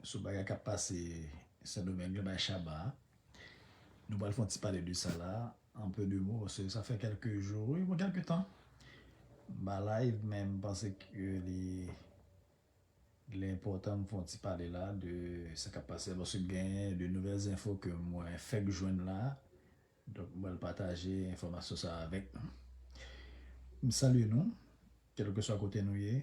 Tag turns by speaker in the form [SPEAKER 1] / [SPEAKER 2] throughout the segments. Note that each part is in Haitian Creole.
[SPEAKER 1] Sou bagay kap pase sendomeng yo bay shaba a nou pral fon ti pale de sa la en peu de mot paske sa fè kelke jou wi bon kelke tan m pa live men m panse ke li li enpotan m fon ti pale la de sa kap pase la paske gen de nouvel zenfo ke mwen fek jwenn la donk m pral pataje enfomasyon sa avek nou m salye nou kelke swa kote nou ye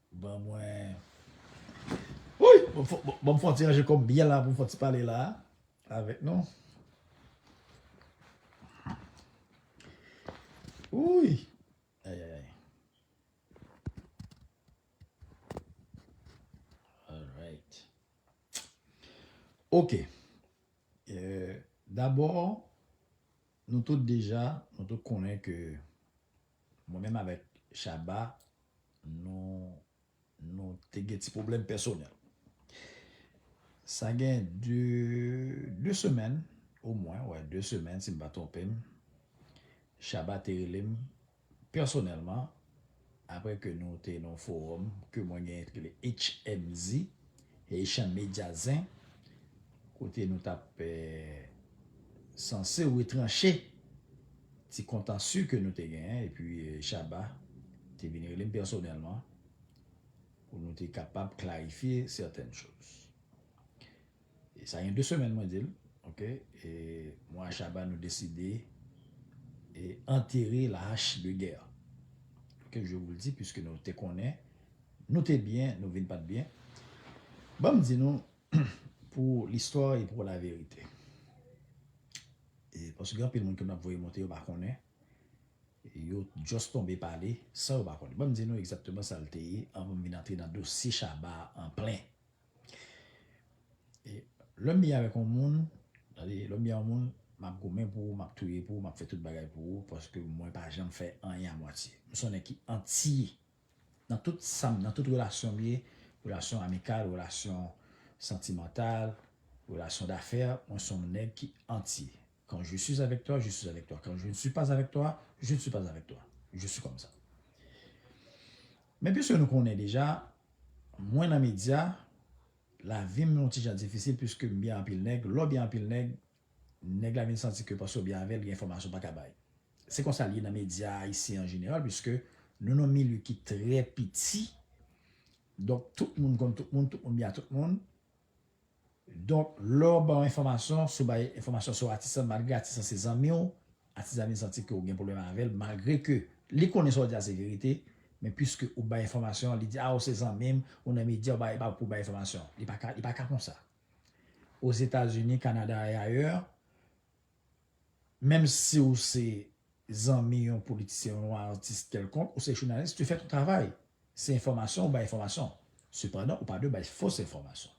[SPEAKER 1] Ban mwen Wouyy! Ban m fon ti ranje kò m byen la pou m fon ti pale la a avèk nou. Wouyy! Ayayay! Alright! Ok! Dabò, nou tout deja, nou tout konnen ke Mwen menm avèk Shabba nou nou te gen ti pwoblèm pèsonèl. Sa gen de de semèn omwen, wè de semèn si m pa twonpe m, Shabba te rele m pèsonèlman apre ke nou te nan yon fowòm ke mwen gen ki rele HMZ. Haitian media zen kote nou tap sanse retranche ti kontansu ke nou te genyen epi Shabba te vin rele m pèsonèlman pou nou te kapab klarifye sètèn choz. E sa gen 2 semèn mwen di l ok e mwen a Shabba nou deside antere la hache de gè ok je vous le di piske nou te konnen Nou te byen, nou vin pat byen. Ban m di nou pou listwa e pou laverite. E paske gen anpil moun ke m ap voye monte yo pa konnen. Yo just tonbe pale san yo pa konnen. Ban m di nou egzakteman sa l te ye anvan m vin antre nan dosye Shabba a an plen. E lè m byen avèk yon moun, tande, lè m byen yon moun, m ap goumen pou ou, m ap touye pou ou, m ap fè tout bagay pou ou paske mwen pa janm fè anyen a mwatye. M son nèg ki anti Nan tout sam nan tout relasyon m ye, relasyon amikal, relasyon santimantal, relasyon dafè, mwen son nèg ki antye. Quand je suis avec toi, je suis avec toi. Quand je ne suis pas avec toi, je ne suis pas avec toi. Je suis comme ça. Men puiske nou konnen deja, mwen nan medya, lavi m yon ti jan difisil puiske m byen anpil nèg, lè w byen anpil nèg, Nèg la vin santi ke paske w byen avè l gen enfòmasyon w pa ka bay. Se konsa l ye nan medya ayisyen an jeneral piske nou nan yon milye ki trè piti donk tout moun konn tout moun, tout moun byen a tout moun. Donk lè w ban yon enfòmasyon, si w bay enfòmasyon sou atis lan malgre atis lan se zanmi w, atis la vin santi ke w gen pwoblèm avè l malgre ke li konnen sa w di a se verite men piske ou bay enfòmasyon an li di a ou se zanmi m, ou nan medya ou bay pou w bay enfòmasyon. Li pa ka konsa. Ozetazini, Kanada et ailleurs, menm si ou se zanmi yon politisyen, yon atis kèlkonk, ou se jounalis, tu fais ton travail. Se enfòmasyon, ou bay enfòmasyon. Sepandan, ou pa dwe bay fos enfòmasyon.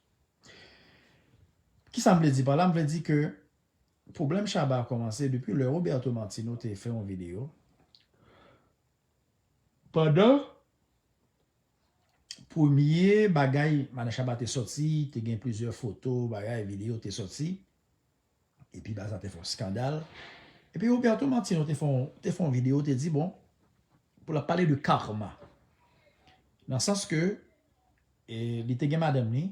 [SPEAKER 1] Kisa m vle di pa la? M vle di ke pwoblèm Shabba a kòmanse depi lè Roberto Martino te fè yon videyo pandan Premye bagay Madan Shabba te sòti, te gen plizyè foto, bagay, videyo te sòti. Epi bagay sa te fè yon skandal. Epi Roberto Martino te fè yon videyo te di bon pou l ap pale de karma. Nan sans ke li te gen madanm li,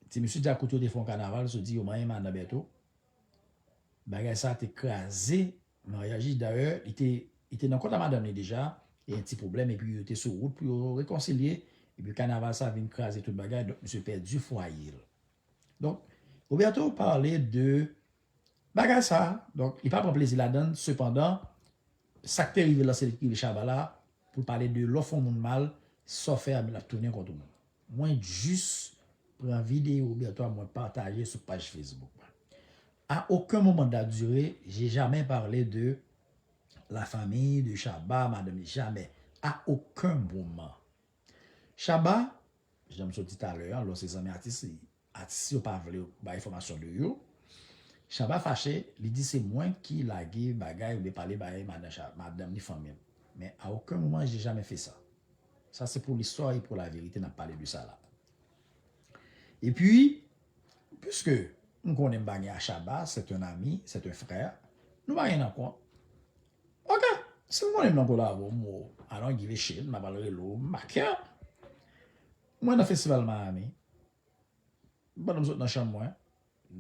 [SPEAKER 1] ti mesye djakout yo te fè yon kanaval, yo te di yo manyen madan Berto. Bagay sa te kraze Maryaj li dayè li te li te nan kont a madanm li deja e yon ti pwoblèm epi yo te sou wout pou yo rekonsilye epi kanaval sa vin kraze tout bagay donk misye pèdi fwaye l donk Roberto pale de bagay sa donk li pa pran plezi ladan l sepandan sa k te rive l la se li ki rive chaba la pou l pale de lè w fè yon moun mal sa w fè a l ap tounen kont ou menm. Mwen jis pran video Bertho a mwen pataje sou paj Facebook mwen. A aucun moment de la durée, j'ai jamais parlé de la famille de Shabba, Madanm jamais, a aucun moment. Shabba, jan m sot di talè an, lò se zanmi atis li, Atis yo pa vle bay enfòmasyon de yo. Shabba fache, li di se mwen ki lage bagay oubyen pale bay madanm ni fanmi l. Men a oken moman je jamè fe sa. Sa se pou listwa e pou laverite n ap pale de sa la. Epi, piske m konnen m pa gen a Shabba, c'est un ami, c'est un frère, nou pa gen nan kont. Ok! Si m konnen m nan kolabo, m I don't give a shit, m ta pral rele w Maker. Mwen nan festival Miami pandan m sot nan chanm mwen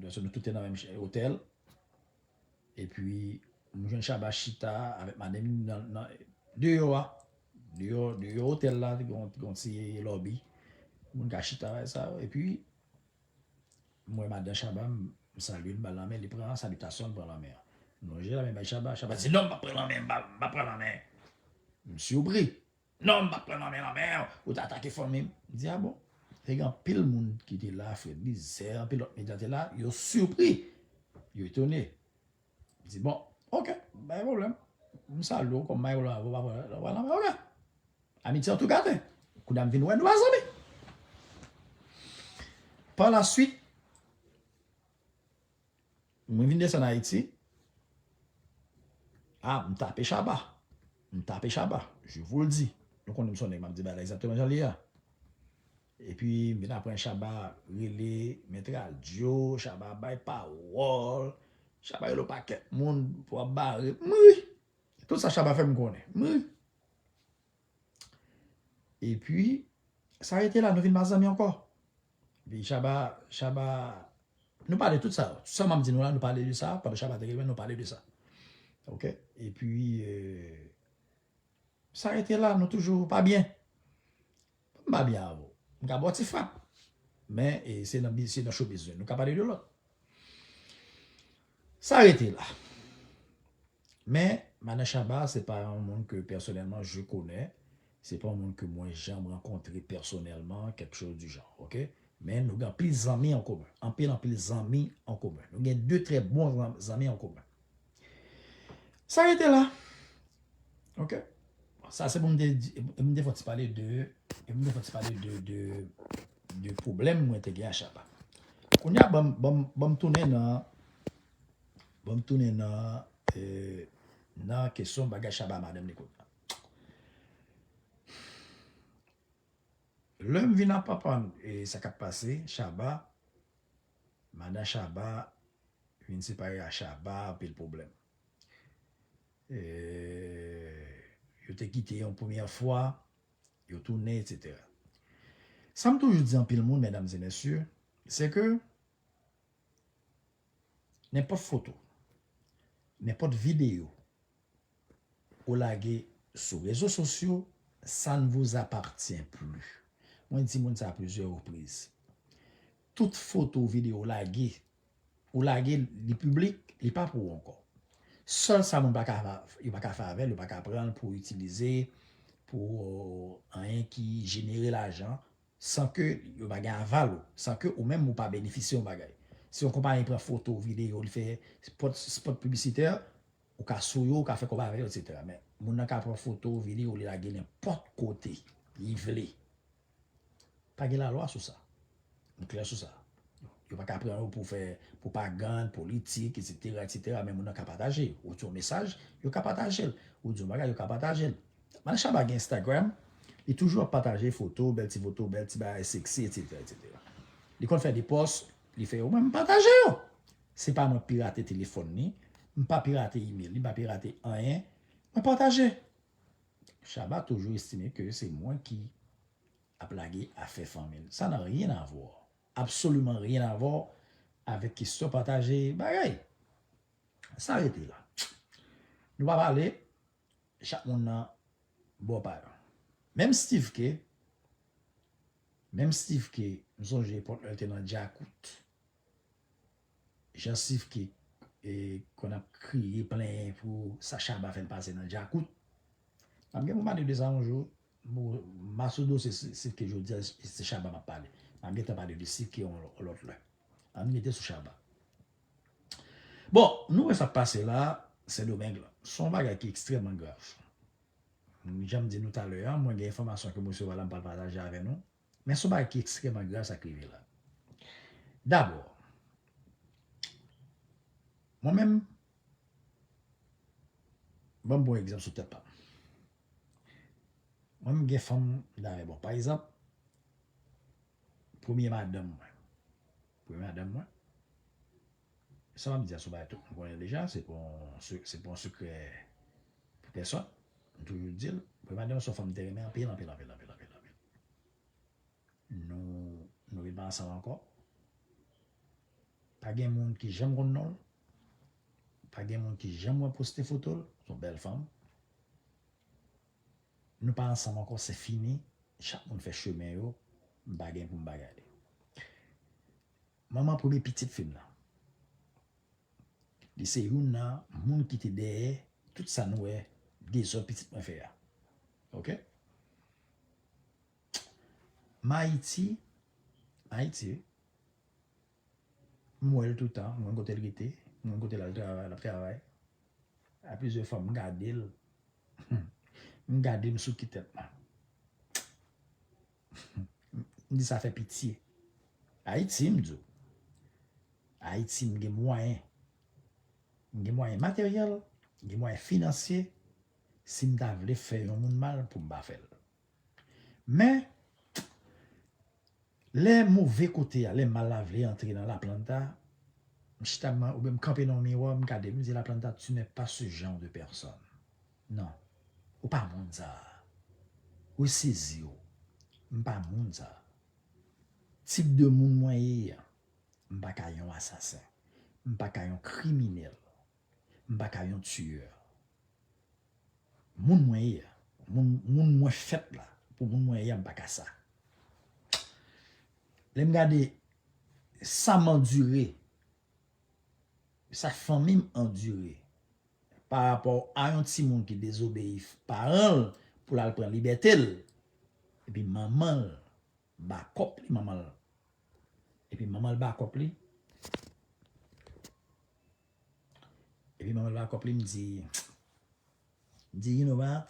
[SPEAKER 1] paske nou tout te nan menm otèl epi m jwenn Shabba chita avèk madanm li nan deyò a deyò otèl la gen yon ti lobby moun ka chita bagay sa yo epi m wè madan Shabba m salye l m ba l lanmen li pran salitasyon l pran lanmen an m lonje lanmen bay Shabba, Shabba di non m pap pran lanmen m pap pran lanmen m siwpri. Non m pat pran nan men nan men w, ou t atake fanmi m. M di a bon. Te gen anpil moun ki te la, Fred Lizè, anpil lòt medya te la, yo sipri, yo etone. M di bon, ok, pa gen pwoblèm. M salye w kòm Mayo la, ou pa pran nan men nan men, ok. Amitye an tou gate. Kounye a m vin wè nou pa zanmi. Par la suite. Mwen vin desann Ayiti, a m tape Shabba, m tape Shabba, je vous le dis. Nou konnen m son nèg m ap di bagay la egzakteman jan li ye a. Epi m vin aprann Shabba rele Mèt Radyo, Shabba ap bay pawòl, Shabba rele yon pakèt moun pou ap bare, m ri. Tout sa Shabba fè m konnen, m ri. E pwi, sa rete la, nou vin pa zanmi ankò. Epi Chaba, Chaba, nou pale tout sa yo. Tout sa m ap di nou la, nou pale de sa, pandan Chaba te gen mwen, nou pale de sa. Ok. E pwi, sa rete la, nou toujou pa byen. M pa byen avè w. M ka ba w ti frap. Men se nan showbiz nou. Nou ka pale de lòt. Sa rete la. Men Manèj Shabba se pa yon moun ke pèsonèlman je konè. Se pa yon moun ke mwen janm rankontre pèsonèlman kèk chòz di jan. Ok. Men nou gen anpil zanmi an komen. Anpil anpil zanmi an komen. Nou gen de trè bon zanmi an komen. Sa rete la. Ok. Sa se pou m te di, m te fò ti pale de, m te fò ti pale de, de, de pwoblèm mwen te gen a Chaba. Kounye a banm, banm, banm tounen nan, banm tounen nan, eee, nan kesyon bagay Chaba a madanm li kounye a. Lè m vin ap aprann e sa k ap pase, Chaba, Madan Shaba vin separe a Shaba anpil pwoblèm. Yo te kite yon premyè fwa, yo tounen etc. Sa m toujou di anpil moun medam e mesye se ke nenpòt foto, nenpòt videyo ou lage sou rezo sosyo sa n vous appartient plus. Mwen di moun sa a plizyè repriz. Tout foto ou video ou lage ou lage li piblik li pa pou ou ankò. Sèl sa moun pa ka yo pa ka fè avèl yo pa ka pran l pou itilize pou anyen ki jenere lajan san ke yo pa gen aval ou, san ke ou menm ou pa benefisye yon bagay. Si yon konpayi pran foto ou video ou li fè spot spot piblisitè ou ka sou yo ou ka fè kòb avè yo etc. Men moun nan ka pran foto ou video ou li lage nenpòt kote li vle. Pa gen lalwa sou sa. M klè sou sa. Yo pa ka pran ou pou fè pwopagann, politik, etsetera, etsetera, men moun nan ka pataje. Ou di yon mesaj, yo ka pataje l. Ou di yon bagay, yo ka pataje l. Mann Shabba gen Instagram, li toujou ap pataje foto, bèl ti foto, bèl ti bagay seksi, etsetera, etsetera. Li konn fè de pòs, li fè yo, mwen m pataje yo. Se pa mwen pirate telefòn li, m pa pirate email li, m pa pirate anyen, mwen pataje. Shabba toujou estime ke se mwen ki ap lage afè fanmi l. Sa nan rien à voir, absolument rien à voir avèk kestyon pataje bagay. Sa rete la. Nou pa pale, chak moun nan bò pa yo. Menm Steeve Khe, menm Steeve Khe, m sonje epòk lè l te nan Djakout. Jansiv ki konn ap kriye plenyen pou sa Shabba fè l pase nan Djakout. M ap gen pou m pale de sa yon jou. Massoudou se Sivke ke jodi a e se Shabba m ap pale. M ap gentan pale de Sivke yon lòt lè. An n rete sou Shabba. Bon, nou wè sa k pase la Sendomeng lan. Se yon bagay ki ekstrèmman grav. Jan m di nou talè a, mwen gen enfòmasyon ke m resevwa la m pral pataje avè nou. Men son bagay ki ekstrèman grav sa k rive la. Dabò, mwen menm, ban m pran yon egzanp sou tèt pa m. Mwen menm gen fanm m ta renmen bon pa egzanp premye madanm mwen, premye madanm mwen Sa map di a son bagay tout moun konnen deja, se pa yon sekrè pou pèsòn, m toujou dil, Prima Donna son fanm m te renmen anpil anpil anpil anpil anpil anpil. Nou ret pa ansanm ankò, pa gen moun ki janm konn nonl, pa gen moun ki janm wè poste fotol, son bèl fanm. Nou pa ansanm ankò se fini, chak moun fè chemen yo, m pa gen poum bagay li. Manman premye pitit fi m nan. Li se youn nan moun ki te dèyè tout sa nou wè dezòd pitit mwen fè a. Ok. M Ayiti, m Ayiti wi. M wè l toutan, m konn kote l rete, m konn kote l al travay, l ap travay. A plizyè fwa m gade l, m gade m sou ki tèt mwen. M di sa fè pitye. Ayiti m di w. Ayiti m gen mwayen. M gen mwayen materyèl, m gen mwayen finansye, si m ta vle fè yon moun mal pou m pa fè l. Men, lè move kote a, lè mal la vle antre nan laplanta, m chita oubyen m kanpe nan yon miwa, m gade m, m di laplanta tu n'es pas ce genre de personne. Non. Ou pa moun sa a. Ressezi w. M pa moun sa a. Tip de moun mwen ye a. M pa ka yon asasen. M pa ka yon kriminèl. M pa ka yon tiyè. Moun mwen ye a. Moun mwen fèt la. Pou moun mwen ye a m pa ka sa. Lè m gade sa m andire Sa fanmim andure pa rapò a yon timoun ki dezobeyi paranl poul al pran libètel epi manmanl bakòp li manmanl epi manmanl bakòp li epi manmanl bakòp li mdi mdi you no wat.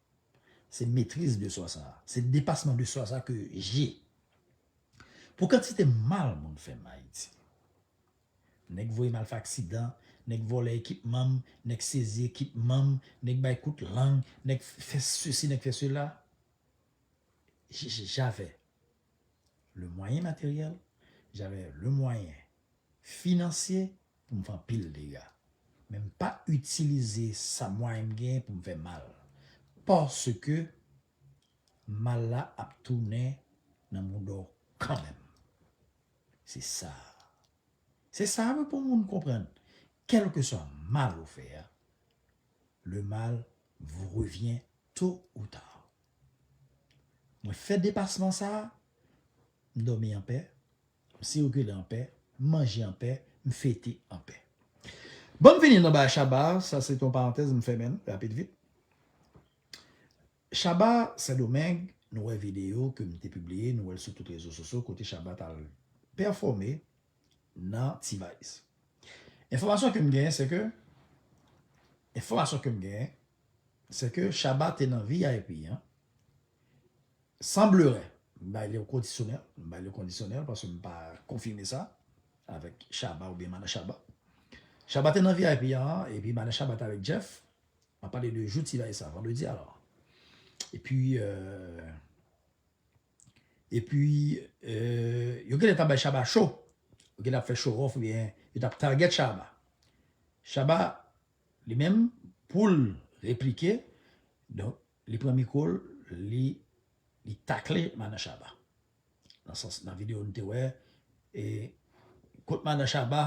[SPEAKER 1] Se metriz de swa sa a. Se depasman de swa sa a ke je. Pou kantite mal moun fè m Ayiti. Nèg voye m al fè aksidan, nèg vòlè ekipman m, nèg sezi ekipman m, nèg bay kout lang, nèg fè sesi, nèg fè sela. J'avais le moyen matériel, j'avais le moyen financier pou m fè anpil dega, men m pa itilize sa mwayen m genyen pou m fè mal, paske mal la ap tounen nan mouda w kanmenm. Se sa a. Se sa a wi pou moun konprann, kèlkeswa mal ou fè a, le mal vous revient tot ou tard. Mwen fè depasman sa a, M dòmi an pè, m sikile an pè, m manje an pè, m fete an pè. Bon m vini nan bay Shabba, sa se te yon parantèz m fèmen l rapid vit. Shabba Sendomeng, nou wè videyo ke m te pibliye, nou wè l sou tout rezo sosyo kote Shabba t al pèfòme nan T-Vice. Enfòmasyon ke m genyen se ke, enfòmasyon ke m genyen se ke Shabba te nan vip an, San blere, m bay li yon kondisyonèl, m bay li yon kondisyonèl paske m pa konfime sa avèk Shabba oubyen Madan Shabba. Shabba te nan vip an epi Madan Shabba te avèk Jeff, m ap pale de jou ti bagay sa, vandredi alò. Epi epi yo genlè t ap bay Shabba show, yo genlè ap fè show off oubyen yo t ap target Shabba. Shabba li menm pou l replike donk Li pran mikro l li li takle madan shaba nan sans nan video nou te wè e kot madan shaba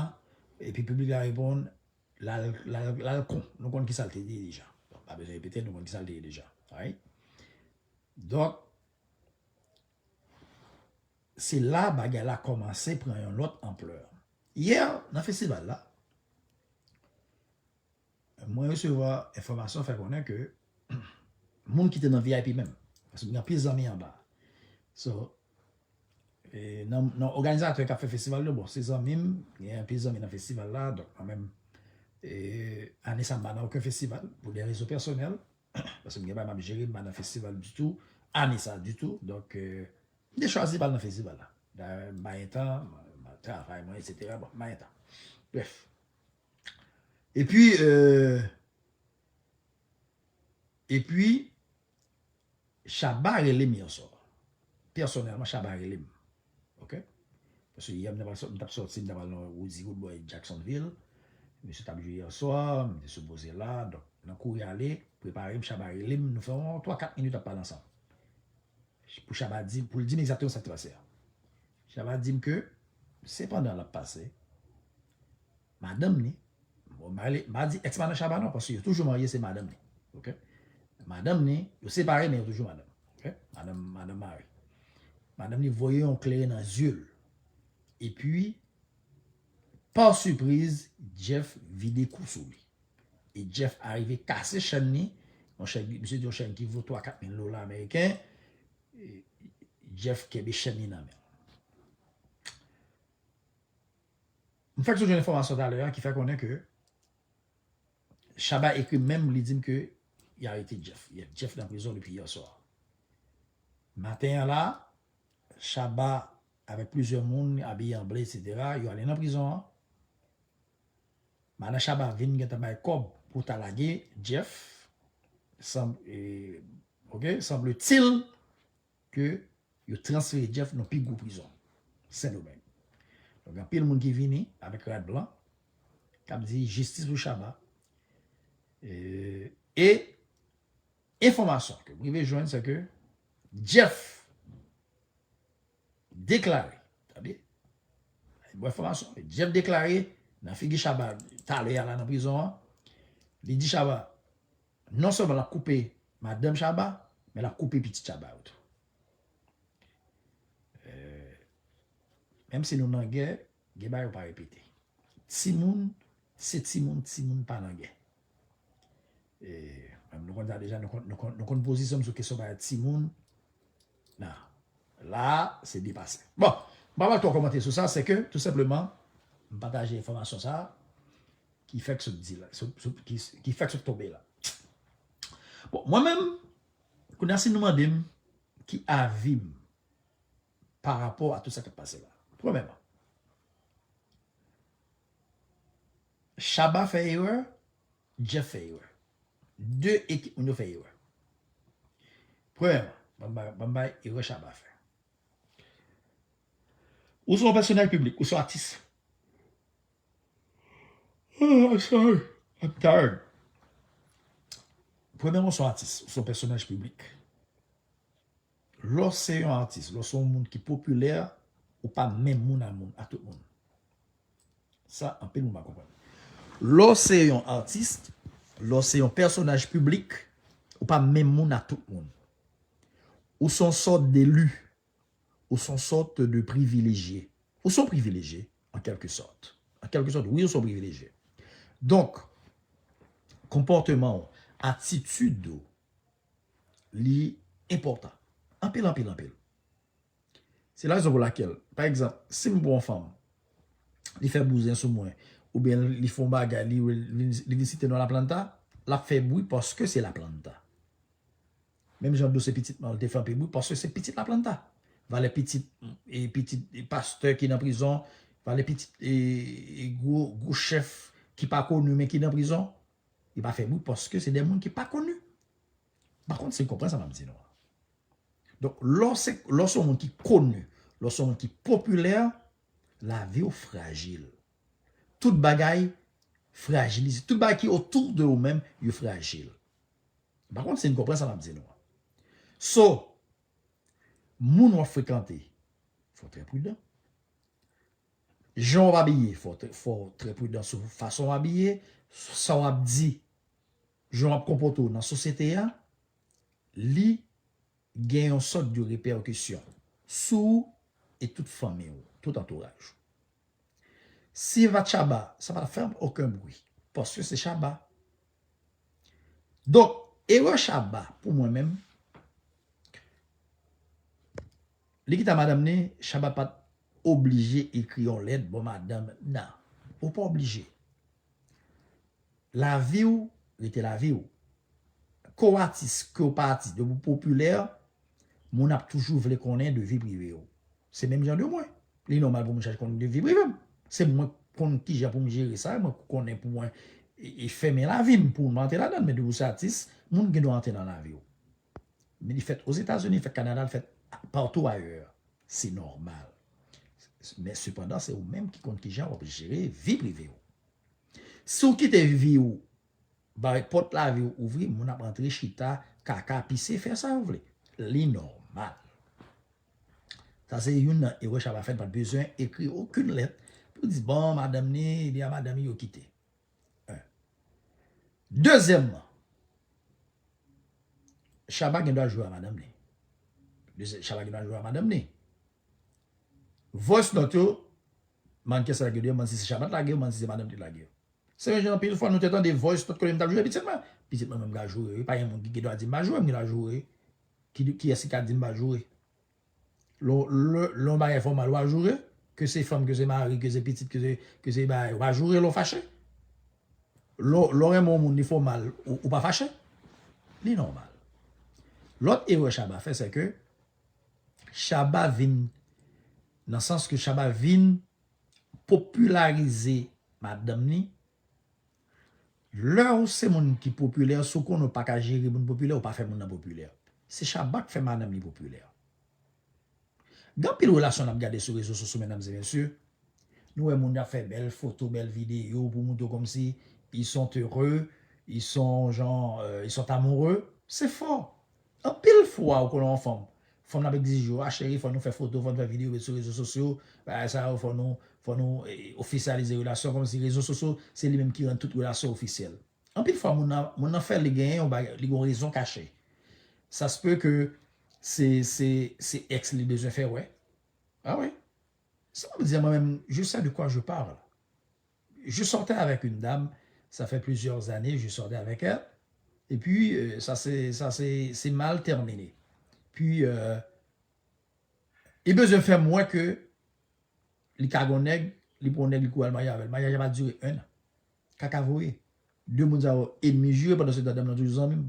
[SPEAKER 1] epi piblik la reponn lal lal lal kon nou konn kisal te di deja donk pa bezwen repete l nou konn kisal te ye deja right donk se la bagay la kòmanse pran yon lòt anplè yè nan festival la. Mwen resevwa enfòmasyon fè konnen ke moun ki te nan vip menm, paske m gen anpil zanmi anba. So, nan òganizatè k ap fè festival yo, bon se zanmi m, m gen anpil zanmi nan festival la, donk mwen menm ane sa m pa nan oken festival pou de rezon pèsonèl, paske m gen bagay m ap jere, m pa nan festival ditou, ane sa ditou, donk m te chwazi pa al nan festival la. Dayè m pa gen tan, m ap travay mwen, etsetera, bon m pa gen tan. Brèf. Epi euh. Epi Shabba relem yon sò. Pèsonèlman Shabba relem. Ok. Paske yè m tap soti m tap al nan Roody Roodboy Jacksonville. Misye tap jwe yè swa, m te sipoze la. Donk nan kouri ale, prepare m Shabba relem nou fè yon 3 4 minit ap pale ansanm. Pou Shabba di, pou l di m egzakteman sa k te pase a. Shabba di m ke sepandan lap pase, madanm ni bon m pa di ex madan shaba non paske yo toujou marye se madanm ni ok madanm ni yo separe men yo toujou madanm ok madanm madanm mari madanm ni voye yon klere nan zye l epi par sipriz Jeff vide kou sou li e Jeff arive kase chèn ni monchè misye di yon chèn ki vo 3 4 mil dola ameriken Jeff kenbe chèn ni nan men l. M fèk sot jwenn enfòmasyon talè a ki fè konnen ke Shabba ekri m menm li di m ke y arete Jeff. Jeff nan prizon depi yè swa. Maten an la, Shabba avèk plizyè moun abiye an ble eksetera yo ale nan prizon an. Madan Shabba vin gentan bay kòb pou ta lage Jeff, sanbletil ke yo transfere Jeff nan pi gwo prizon Sendomeng. Donk gen anpil moun ki vini avèk rad blan k ap di jistis pou Shabba. E enfòmasyon ke m rive jwenn se ke Jeff deklare, tande bon enfòmasyon, Jeff deklare nan figi Shabba talè a la nan prizon an, li di Shabba Non sèlman lap koupe madanm Shabba men lap koupe pitit Shabba yo tou. Menm si nou nan gè, gen bagay ou pa repete. Timoun se timoun, timoun pa nan gè. Nou konn sa deja, nou konn pozisyon m sou kesyon bagay timoun. Nan, la a se depase. Bon, m pa pral twò kòmante sou sa, se ke tou senpleman m pataje enfòmasyon sa a. ki fèk sot di la, ki fèk sot tonbe la. Bon, mwen menm, kou nasi nou mande m, ki avi m, pa rapò a tout sa k ap pase la. Premèman, Chaba fè erè, Jeff fè erè. De ekip moun yo fè erè. Premèman, banm bay erè Chaba fè. Ou se yon pèsonèl piblik, ou se yon atis. Premèman ou se yon atis, ou se yon pèsonaj piblik. Lè w se yon atis, lè w se yon moun ki popilè, ou pa menm moun a moun, a tout moun. Sa anpil moun pa konprann. Lè w se yon atis, lè w se yon pèsonaj piblik, ou pa menm moun a tout moun. Ou se yon sòt delu, ou se yon sòt de privilejye. Ou se yon privilejye. an kèlke sòt. An kèlke sòt, wi ou se yon privilejye. Donk, konpòteman ou, atitid ou, li enpòtan. Anpil, anpil, anpil. Se la rezon pou lakèl, pa egzanp, si m pran yon fanm, li fè bouzen sou mwen, oubyen li fè yon bagay, li vin site non Laplanta, l ap fè bri paske se Laplanta. Menm jan dosye pitit man te flanpe bri paske se pitit laplanta. Valè pitit e pitit pastè ki nan prizon, valè pitit e gwo gwo chèf ki pa koni men ki nan prizon, yo pa fè bri paske se de moun ki pa koni. M pa konn si n konprann sa m ap di nou an. Donk lè w se lè w se yon moun ki koni, lè w se yon moun ki popilè, lavi w frajil. Tout bagay frajilize, tout bagay ki otou de ou menm yo frajil. M pa konn si n konprann sa m ap di nou an. So, moun w ap frekante, fò w trè pridan. Jan w ap abiye, fò w trè pridan sou fason w abiye, sa w ap di, jan w ap konpòte w nan sosyete a, li gen yon sòt de repèkisyon sou ou e tout fanmi w, tout antouraj ou. Si Vatchaba, sa pa t ap fè oken bri, paske se Chaba, Donk, erè Shabba pou mwen menm, li ki ta madanm ni, Shabba pa t oblije ekri yon lèt bo madanm nan. Ou pa oblije. Lavi w rete lavi w. Ke w atis, ke w pa atis, depi w popilè, moun ap toujou vle konnen de vi prive w. Se menm jan de mwen. Li nòmal pou moun chache konnen de vi prive m. Se mwen k konn kijan pou m jere sa, mwen k konnen pou mwen fèmen lavi m pou m antre ladan l men depi w se atis, moun gen dwa antre nan lavi w. Men li fèt Ozetazini, li fèt Kanada, li fèt patou ayè. Se nòmal. Men sepandan se ou menm ki konn kijan w ap jere vi prive w. Si w kite vi w bay pòt lavi w ouvri, moun ap antre chita, kaka, pise, fè sa yo vle. Li nòmal. Sa se youn nan erè Shabba fè, li pa t bezwen ekri okenn lèt pou l di bon madanm ni ebyen a madanm li yo kite. 1, Dezyèmman, Shabba gendwa jwe a madanm li. Shabba gendwa jwe a madanm li. Voice note yo, mannken sa lage yo, m pa konn si se Shabba t lage yo, m pa konn si se madanm ki lage yo. Sèm Jean anpil fwa nou te tande voice note kote m tap joure pitit mwen. Pitit mwen menm ka joure wi pa gen moun ki gen dwa di m pa joure m gen dwa joure wi. Kiyès ki ka di m pa joure. Lè yon bagay fè w mal wa joure ke se fanm ke se mari ke se pitit ke se bagay wa joure lè w fache. Lè w renmen yon moun li fè w mal ou pa fache. Li nòmal. Lòt erè Shabba fè se ke Shabba vin nan sans ke Shabba vin. popilarize madanm ni, lè ou se moun ki popilè si w konnen ou pa ka jere moun popilè ou pa fè moun nan popilè. Se Shabba k fè madanm li popilè. Gen anpil relasyon n ap gade sou rezo sosyo medam e mesye, nou wè moun ap fè bèl foto bèl videyo pou montre kòmsi ils sont heureux, ils sont jan, ils sont amoureux, se fo. Anpil fwa ou konnen yon fanm, fanm nan ap egzije ou, ah cheri fò nou fè foto, fò nou fè videyo met sou rezo sosyo, bagay sa yo fò nou, fò nou ofisyalize relasyon kòmsi rezo sosyo se li menm ki rann tout relasyon ofisyèl. Anpil fwa moun nan, moun nan fè li genyen yon bagay, li gen yon rezon kache. Sa se peut ke se, se, se ex li bezwen fè wè. Ah wi. Sa map di a mwen menm, je sais de quoi je parle. Je sortais avec une dame, ça fait plusieurs années je sortais avec elle, et puis ça s'est mal terminé, puis li bezwen fèm wè ke li ka gon nèg, li pran yon nèg li kouri al marye avèl, maryaj la pa dire 1 an, kaka voye, 2 moun sa yo enmi jire pandan se tan dam nan toujou zanmim.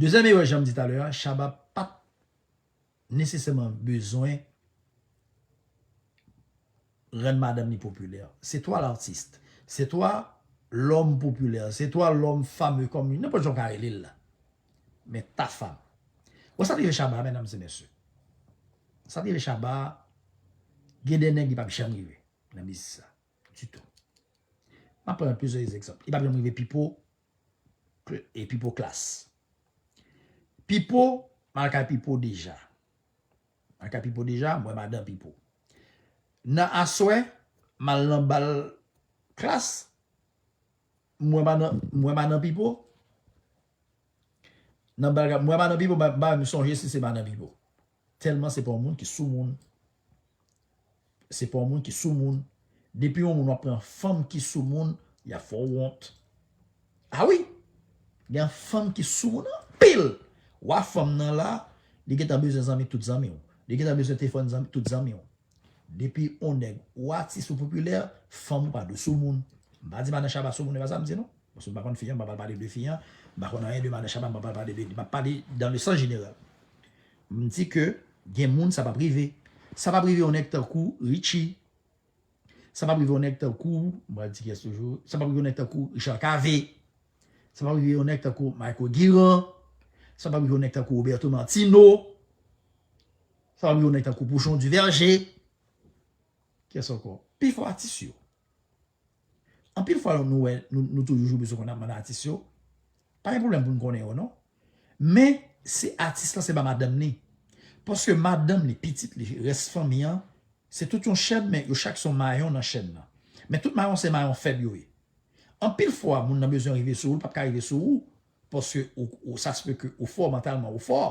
[SPEAKER 1] Dezyèm erè janm di talè a Shabba pat nesesèman bezwen rann madanm li popilè. Se toi l'artiste, c'est toi l'homme populaire, c'est toi l'homme fameux kòm nenpòt jan ou ka rele l la. Men Tafa. Ou wè sa ki rive Shabba medam e mesye. Sa ki rive Shabba gen de nèg li pap janm rive nan biznis la ditou. Map pran plizyè egzanp. Li pap janm rive Pipo E pipo klass. Pipo m al kay pipo deja. M al kay pipo deja m wè madan pipo. Nan aswè m al nan bal klass m wè madan m wè madan pipo nan bal m wè madan pipo m pa m sonje si se madan pipo. Telman se pa yon moun ki sou moun se pa yon moun ki sou moun depi yon moun wap pran fanm ki sou moun yap fè w wont a wi gen fanm ki sou moun anpil wa fanm nan la li gentan bezwen zanmi tout zanmi w li gentan bezwen telefòn zanmi tout zanmi w Depi on nèg ou atis ou popilè, fanm ou pa dous sou moun. M pa di madan Shabba sou moun e pa sa m di non. Paske m pa konn fi an m pa pral pale de fi an, m pa konn anyen de madan Shabba m pa pral pale de li. M ap pale dan le sans jeneral. M di ke gen moun sa pap rive. Sa pap rive on nèg tankou Richie. Sa pap rive on nèg tankou, m pral di kiyès toujou, sa pap rive on nèg tankou Richard Cavé. Sa pap rive on nèg tankou Mayko Guirand. Sa pap rive on nèg tankou Roberto Martino. Fanm yo nen tankou pouchon Duverger. Kyes anko? Pifò atis yo. Anpil fwa nou wè nou toujou joube sou konn ap mande atis yo. Pa gen pwoblèm pou nou konnen yo non. Men se atis lan se pa madanm li. Paske madanm li, pitit li, rès fanmi an, se tout yon chèn men yo chak son mayon nan chèn nan. Men tout mayon se mayon fèb yo ye. Anpil fwa moun nan bezwen rive sou ou, li pap ka rive sou ou Paske ou sa se pe ke ou fò mantalman ou fò.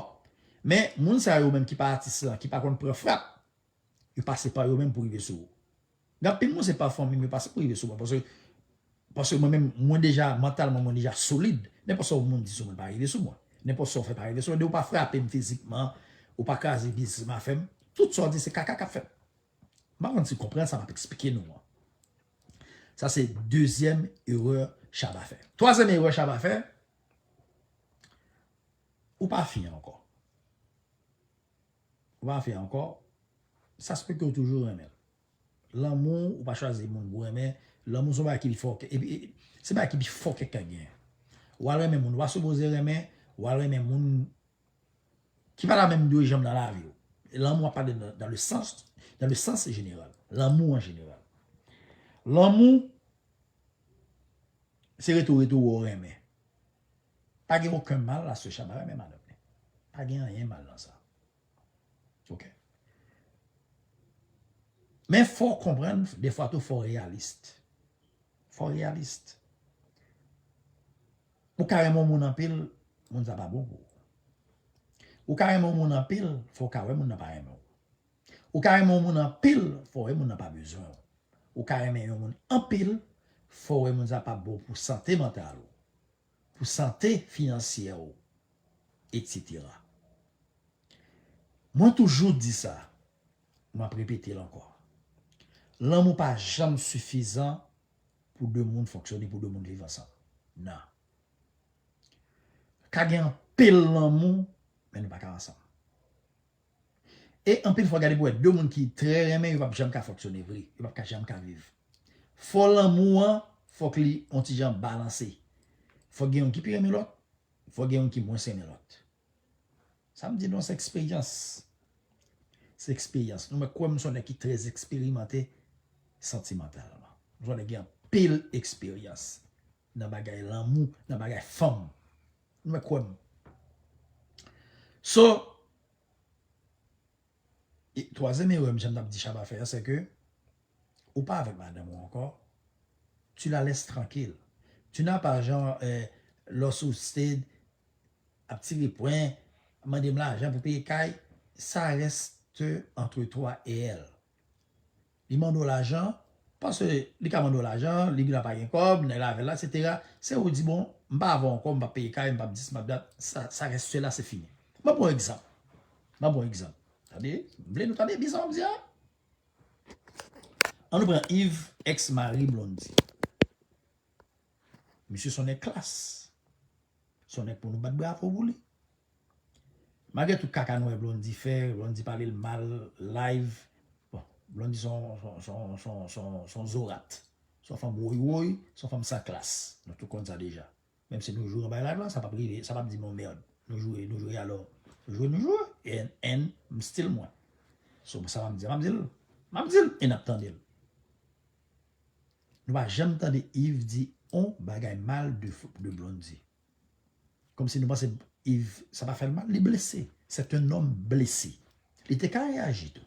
[SPEAKER 1] Men moun sa yo menm ki pa atis lan ki pa konn pran frap yo pase pa yo menm pou rive sou ou. Gen anpil moun se pa fanmi m yo pase pou rive sou mwen paske paske mwen menm mwen deja mantalman mwen deja solid nenpòt sa yon moun di sou mwen pa rive sou mwen. Nenpòt sa w fè pa rive sou mwen depi w pa frape m fizikman ou pa kraze biznis m afè m tout sa w di se kaka k ap fèt. M pa konn si w konprann sa m ap eksplike nou an. Sa se dezyèm erè Shabba fè. Twazyèm erè Shabba fè, ou pa fyen ankò. Ou pa fyen ankò, sa se paske ou toujou renmen l. Lanmou, ou pa chwazi moun pou renmen, lanmou se yon bagay ki pi fò ke, se bagay ki pi fò ke k ka gen. Ou al renmen moun ou pa sipoze renmen, ou al renmen moun Ki pa la menm dwe janm nan lavi w. Lanmou a pale nan le sans, nan le sans jeneral. Lanmou an jeneral. Lanmou se rete w rete w wè w renmen. Pa gen oken mal la sè Chaba renmen madanm li. Pa gen anyen mal nan sa. Ok. Men fò w konprann defwa tou fò w reyalist. Fò w reyalist. Ou ka renmen yon moun anpil, moun sa pa bon pou ou. Ou ka renmen yon moun anpil, fò w ka wè moun nan pa renmen w. Ou ka renmen yon moun anpil, fò w wè moun nan pa bezwen w. Ou ka renmen yon moun anpil, fò w wè moun sa pa bon pou sante mantal ou, pou sante finansyè ou, etc. Mwen toujou di sa, m ap repete l ankò, lanmou pa janm sifizan Pou 2 moun fonksyone pou 2 moun viv ansanm nan ka gen anpil lanmou men nou paka ansanm e anpil fwa gade pou wè 2 moun ki trè renmen yo pap janm ka fonksyone vre yo pap ka janm ka viv fò lanmou an fòk li on ti jan balanse fòk gen youn ki pi renmen lòt fòk gen youn ki mwens renmen lòt. Sa m di nou an se eksperyans. Se eksperyans. Nou mwen kwè m son nèg ki trè eksperimante santimantalman. M son nèg ki gen anpil eksperyans nan bagay lanmou, nan bagay fanm. Nou mwen kwè m. So, twazyèm erè m janm t ap di Shabba fè a se ke Ou pa avèk madanm ou ankò? Tu la laisses tranquille. Tu n'as pas genre lò sou sted ap tire pwen, mande m lajan pou peye kay, ça reste entre toi et elle. Li mande w lajan, paske li ka mande w lajan, li gen dwa pa gen kòb, nèg la avè l la, etc. Se ou di bon, m pa avè w ankò, m pap peye kay, m pap dis, m pap dat, ça reste cela, c'est fini. M ap pran yon egzanp. M ap pran yon egzanp. Tande, m vle nou tande byen sa m ap di a. An nou pran Yves ex mari Blondy. Misye son nèg klas. Son nèg pou nou bat bravo pou li. Malgre tout kaka nou wè Blondy fè, Blondy pale l mal live. Bon, Blondy son, son, son, son, son zorat. Son fanm woywoy, son fanm san klas. Nou tout konn sa deja. Menm si nou jwe yon bay lajan sa pap rive sa pap di non merd nou jwe nou jwe alò jwe nou jwe en en m still mwen so sa map di map dil map dil e nap tandel nou pa janm tande Yves di on bagay mal de de Blondie kòmsi nou panse Yves sa pa fèl mal li blese c'est un homme blessé li te ka reyaji tou.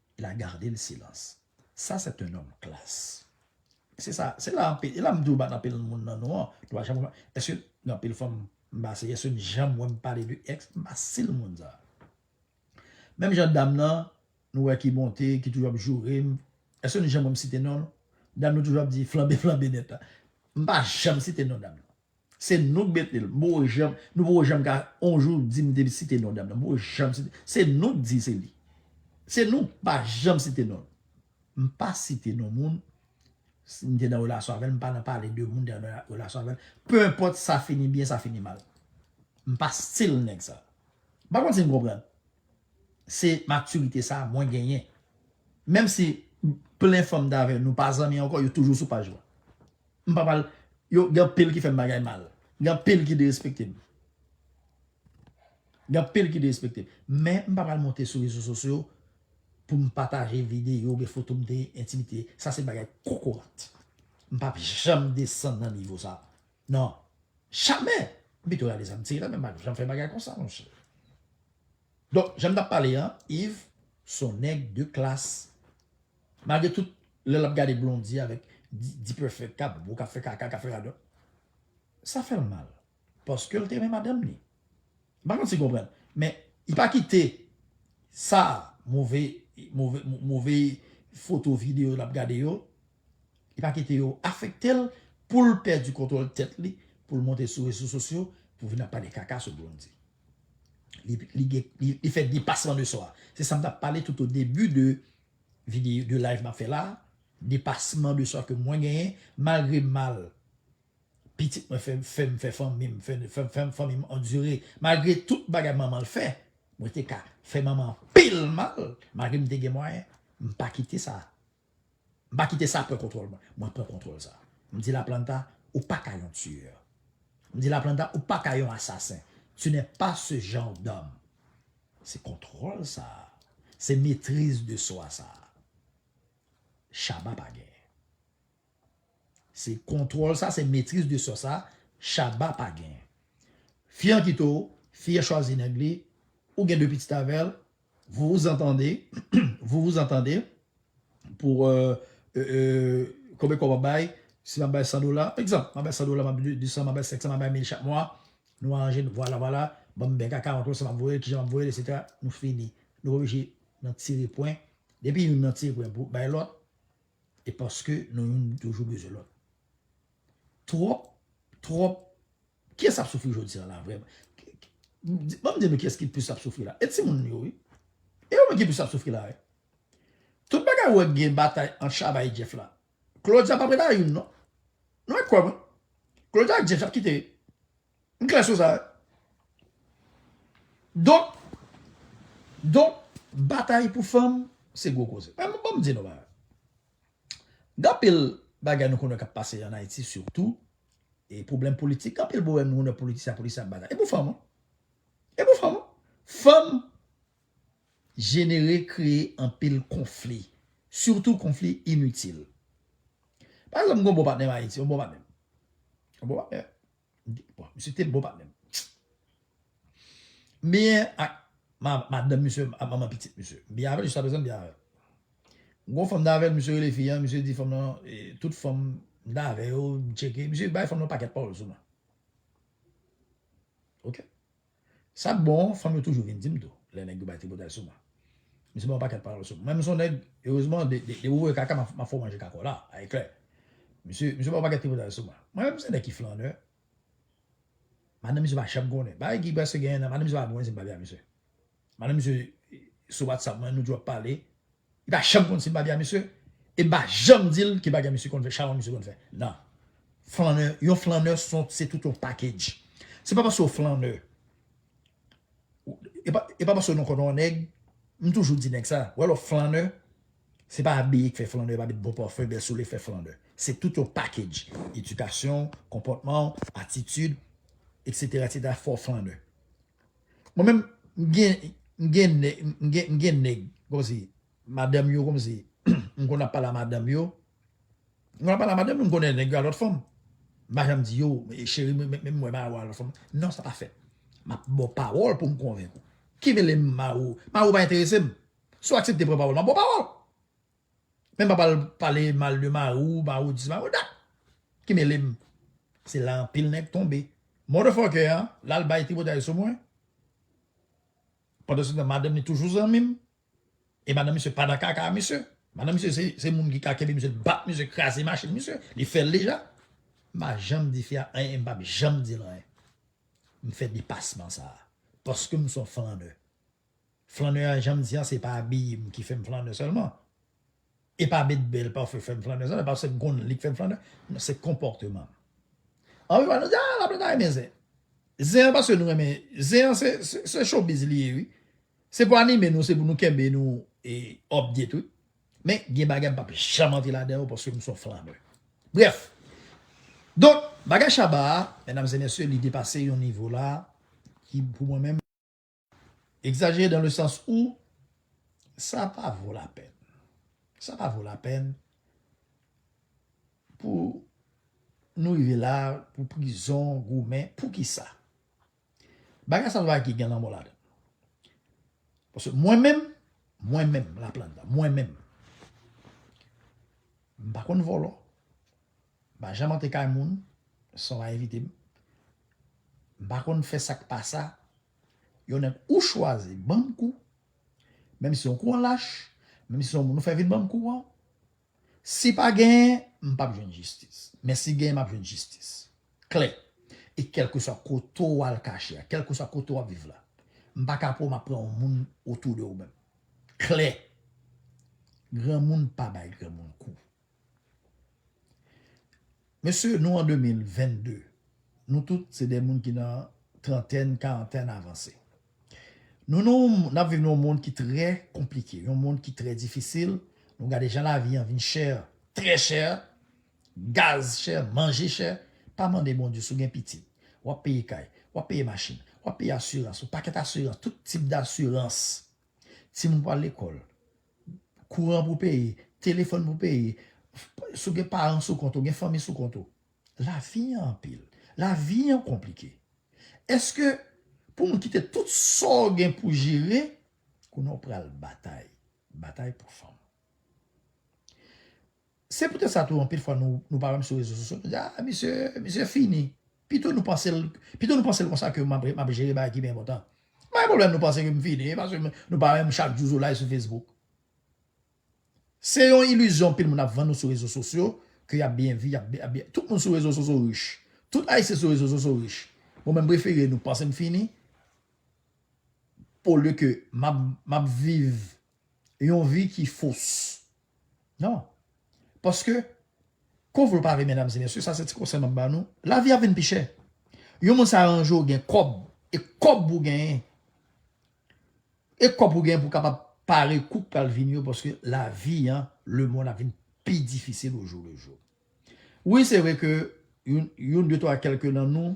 [SPEAKER 1] il a garde le silence ça c'est un homme classe se sa se la anpil e la m di w bat anpil moun nan nou an nou pa janm wè èske gen anpil fanm m pa si èske n janm wè m pale de èks m pa si l moun sa menm jan dam nan nou wè ki monte ki toujou ap joure m èske nou janm wè m site non l dam nan toujou ap di flanbe flanbe nèt la m pa janm site non dam nan Se nou k mete l. M poko janm, nou poko janm ka on jou di m te site non dam nan. M poko janm site. Se nou k di se li. Se nou k pa janm site non l. M pa site non moun, si m te nan relasyon avè l, m pa nan pale de moun m te nan relasyon avè l. Peu enpòt sa fini byen, sa fini mal. M pa stil nèg sa. M pa konn si n konprann. Se matirite sa mwen genyen. Menm si plen fanm m t avè nou pa zanmi ankò, yo toujou sou paj mwen. M pa pral yo gen anpil ki fè m bagay mal. Gen anpil ki derespekte m. Gen anpil ki derespekte m. Men m pa pral monte sou rezo sosyo pou m pataje videyo oubyen foto m te entimite. Sa se bagay kokorat. M pa p janm desann nan nivo sa. Non. Jamè! M pito rale zam tire nan men m pa p janm fè bagay konsa monchè. Donk jan m t ap pale an, Iv s on nèg de klas. Malgre tout lè lap gade Blondie avèk D-perfect kap bo kap fè kaka kap fè radòt sa fèl mal paskel te renmen madanm li m pa konn si konprann men li pa kite sa move move foto video lap gade yo li pa kite yo afektel poul pèdi kontwòl tèt li poul monte sou rezo sosyo pou vin ap pale kaka sou Blondie li fè depasman de swa se sam tap pale tout o debi de Video de live map fè la. Depasman de swa ke mwen genyen. Malgre mal pitit mwen fè m fè fanmi m fè fanmi m andire. Malgre tout bagay manman l fè. Mwen te ka fè manman anpil mal. Malgre m te gen mwayen. M pa kite sa. M pa kite sa pran kontwòl mwen. Mwen pran kontwòl sa. M di Laplanta ou pa ka yon tueur. M di Laplanta ou pa ka yon asasen. Tu n'es pas ce genre d'homme. Se kontwòl sa a. Se metriz de swa sa a. Shabba pa genyen. Se kontwòl sa a, se metriz de swa sa a, Shabba pa genyen. Fi an kite w, fi an chwazi nèg li, ou gen 2 pitit avè l, vous vous entendez, vous vous entendez pour konbyen kòb w ap bay, si m ap bay 100 dola, egzanp, m ap bay 100 dola, m ap bay 200, m ap bay 500, m ap bay 1000 chak mwa, Nou aranje nou vwala vwala banm bèk akawont ou sa map voyel kijan map voyel etc nou fini nou oblije nan tire pwen depi youn nan tire pwen pou bay lòt e paske nou youn toujou bezwen lòt twòp twòp kiyès ap soufri jodia la vrèman banm di nou kiyès ki plis ap soufri la e timoun yo wi e yo menm ki plis ap soufri la tout bagay ou wè gen batay ant chaba e jeff la Claudia pa preta youn non. Nou mèt kwè mwen. Claudia ak James ap kite. M klè sou sa. Donk, donk batay pou fanm se gwo koze. Men m banm di nou bagay. Gen anpil bagay nou konnen kap pase an Ayiti sitou e pwoblèm politik. Gen anpil pwoblèm nou konnen politisyen ak politisyen ap batay. E pou fanm. E pou fanm. Fanm jenere kreye anpil konfli sitou konfli initil pa egzanp m gen yon bon patnè m ayiti yon bon patnè m yon bon patnè bon misye te bon patnè m m byen ak madanm misye ak manman pitit misye m byen avèl jiskaprezan m byen avèl m gen yon fanm m t avèl misye rele fi an misye di fanm lan tout fanm m t avè yo m tcheke misye bay fanm lan yon pakèt pawòl sou mwen ok Sa k bon, fanm yo toujou vin di m tou, lè nèg yo bay tripotay sou mwen. M se bay yon pakèt pawòl sou m. Mwen menm m se yon nèg, erezman, depi ou voye kaka, m ap fè w manje kaka w la, a eklè. Misye, misye bay yon pakèt tripotay sou mwen. Mwen menm m se nèg ki flannè. Madanm misye pa janm konnen. Bagay ki prèske gen ennan, madanm misye pa bwenn si m pale a misye. Mande misye sou WhatsApp mwen nou di wap pale. Li pa janm konn si bagè a misye e mpa janm dil ki bagè misye konn fè chawony misye konn fè nan. Flannè yon flannè son se tout yon package. Se pa paske w flannè e pa paske nou konnen yon nèg m toujou di nèg sa wè lè w flannè se pa abiye k fè flannè e pa met bon parfum bèl soulye k fè flannè se tout yon package edikasyon w konpòtman w atitid etc etc fè w flannè. Mwen menm m gen m gen nèg m gen m gen nèg kòmsi madanm yo kòmsi m konn ap pale a madanm yo m konn ap pale a madanm yo m konnen nèg yo a lòt fanm m pa janm di yo cheri m renmen m wè Maro a lòt fanm non sa pa fèt m ap ba w pawòl pou m konvenk ou ki mele m Maro Maro pa enterese m si w aksepte pran pawòl m ap ba w pawòl Menm pa pral pale mal de mari w maroudi se maroda ki mele m se la anpil nèg tonbe motherfucker an la al bay tripotay sou mwen pandanstan madanm li toujou zanmi m e madanm misye pa nan kaka a misye madanm misye se moun ki ka kenbe misye li bat misye kraze machin misye li fè l deja m pa janm di fi a anyen e m pap janm di l anyen m fè depasman sa paske m son flanneur. Flannè a janm di a se pa abiyem ki fèm flannè sèlman e pa met bèl pafim fèm flannè sèlman paske m konnen li k fèm flannè non se konpòtemanm anpil fwa nou di a laplanta renmen zen zen an paske nou renmen zen an se chobiz li ye wi se pou anime nou se pou nou kenbe nou e òpdye tou men gen bagay m pap janm antre ladan yo paske m son flannè brèf donk bagay shabba a medam e mesye li depase yon nivo la ki pou mwen menm. Exagere dans le sens où sa pa vo la pèn. Sa pa vo la pèn pou nou rive la pou prizon goumen pou ki sa. Bagay sa se bagay ki gen lanmò ladan l. Paske mwen menm, mwen menm Laplanta, mwen menm m pa konn vòlò. M pa janm antre kay moun san w pa envite m. M pa konn fè sa k pa sa. Yon nèg ou chwazi ban m kou, menm si yon kou an lach, menm si yon moun ou fè vin ban m kou an. Si pa genyen, m pap jwenn jistis. Men si genyen, m ap jwenn jistis. Klè. E kèlkeswa kote w al kache a, kèlkeswa kote w ap viv la, m pa ka pou w m ap pran yon moun otou de ou menm. Klè. Granmoun pa bay granmoun kou. Mesye nou an 2022, nou tout se 2 moun ki nan trantèn, karantèn avanse. Nou nan yon, nap viv nan yon mond ki trè konplike, yon mond ki trè difisil, nou gade jan lavi an vin chè, trè chè, gaz chè, manje chè, pa mande Bondye si w gen pitit, wap peye kay, wap peye machin, wap peye asirans, yon pakèt asirans, tout tip dasirans, timoun pwal lekòl, kouran pou peye, telefòn pou peye, si w gen paran sou kont ou, gen fanmi sou kont ou. Lavi an anpil. Lavi an konplike. Eske pou moun kite tout sa w gen pou jere, kounye a w pral batay. Batay pou fanm. Se poutèt sa tou anpil fwa nou pa wè m sou rezo sosyo nou di a misye misye fini pito nou panse l pito nou panse l konsa ke m ap jere bagay ki pi enpòtan. M pa gen pwoblèm nou panse ke m fini paske nou pa wè m chak jou sou live sou Facebook. Se yon ilizyon anpil moun ap vann nou sou rezo sosyo ke y ap byen vi y ap byen tout moun sou rezo sosyo rich tout ayisyen sou rezo sosyo rich bon men m prefere nou panse m fini olye ke m ap viv yon vi ki fos. Non. Paske, kon vle ou pa vle medam e mesye, sa se ti konsèy map ba nou, lavi ap vin pi chè. Yon moun sa aranje ou gen kòb, e kòb ou genyen, e kòb ou genyen pou kapab pare kou pral vini yo paske lavi an, le mond ap vin pi difisil o jou le jou. Wi se vre ke yon de twa kèlke nan nou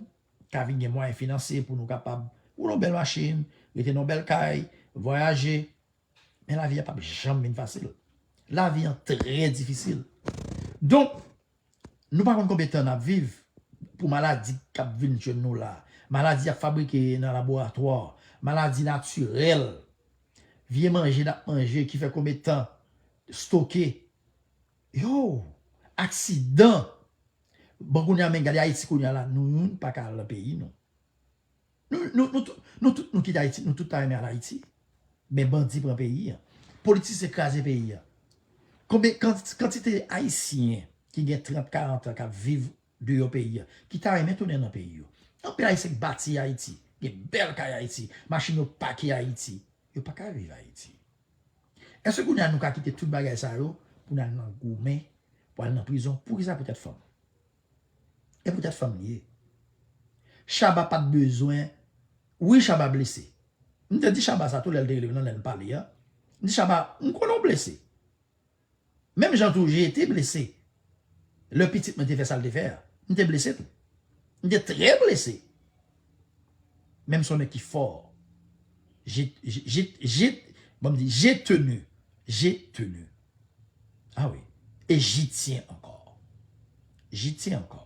[SPEAKER 1] ka vin gen mwayen finansye pou nou kapab woule yon bèl machin, rete nan yon bèl kay, vwayaje, Men lavi a pap janm vin fasil. Lavi an trè difisil. Donk, nou pa konn konbyen tan n ap viv pou maladi k ap vin jwenn nou la. Maladi y ap fabrike nan laboratwa, maladi natirèl, vye manje n ap manje ki fè konbyen tan stoke. Yow! Aksidan! Bon kounye a men gade Ayiti kounye a la nou youn pa ka al nan peyi nou. Nou tout nou kite ayiti nou tout ta renmen al ayiti men bandi pran peyi an politisyen kraze peyi an konbyen kantite ayisyen ki gen 30 40 an kap viv deyò peyi an ki ta renmen tounen nan peyi yo anpil ayisyen ki bati ayiti gen bèl kay ayiti machin yo pake ayiti yo paka viv ayiti èske kounye a nou ka kite tout bagay sa yo pou nan al nan goumen pou al nan prizon poukisa poutèt fanm. E poutèt fanm li ye. Shaba pat bezwen Wi Shaba blese M te di Shaba sa tou lèl te rele m nan lèn pale an M di Shaba m konnen w blese Menm jan tou je te blese Lè pitit mwen te fè sal te fè a M te blese tou M te trè blese Men m son nèg ki fò Je je je Bon m di je tenu je tenu. Ah wi, ejityen ankò. Jityen ankò.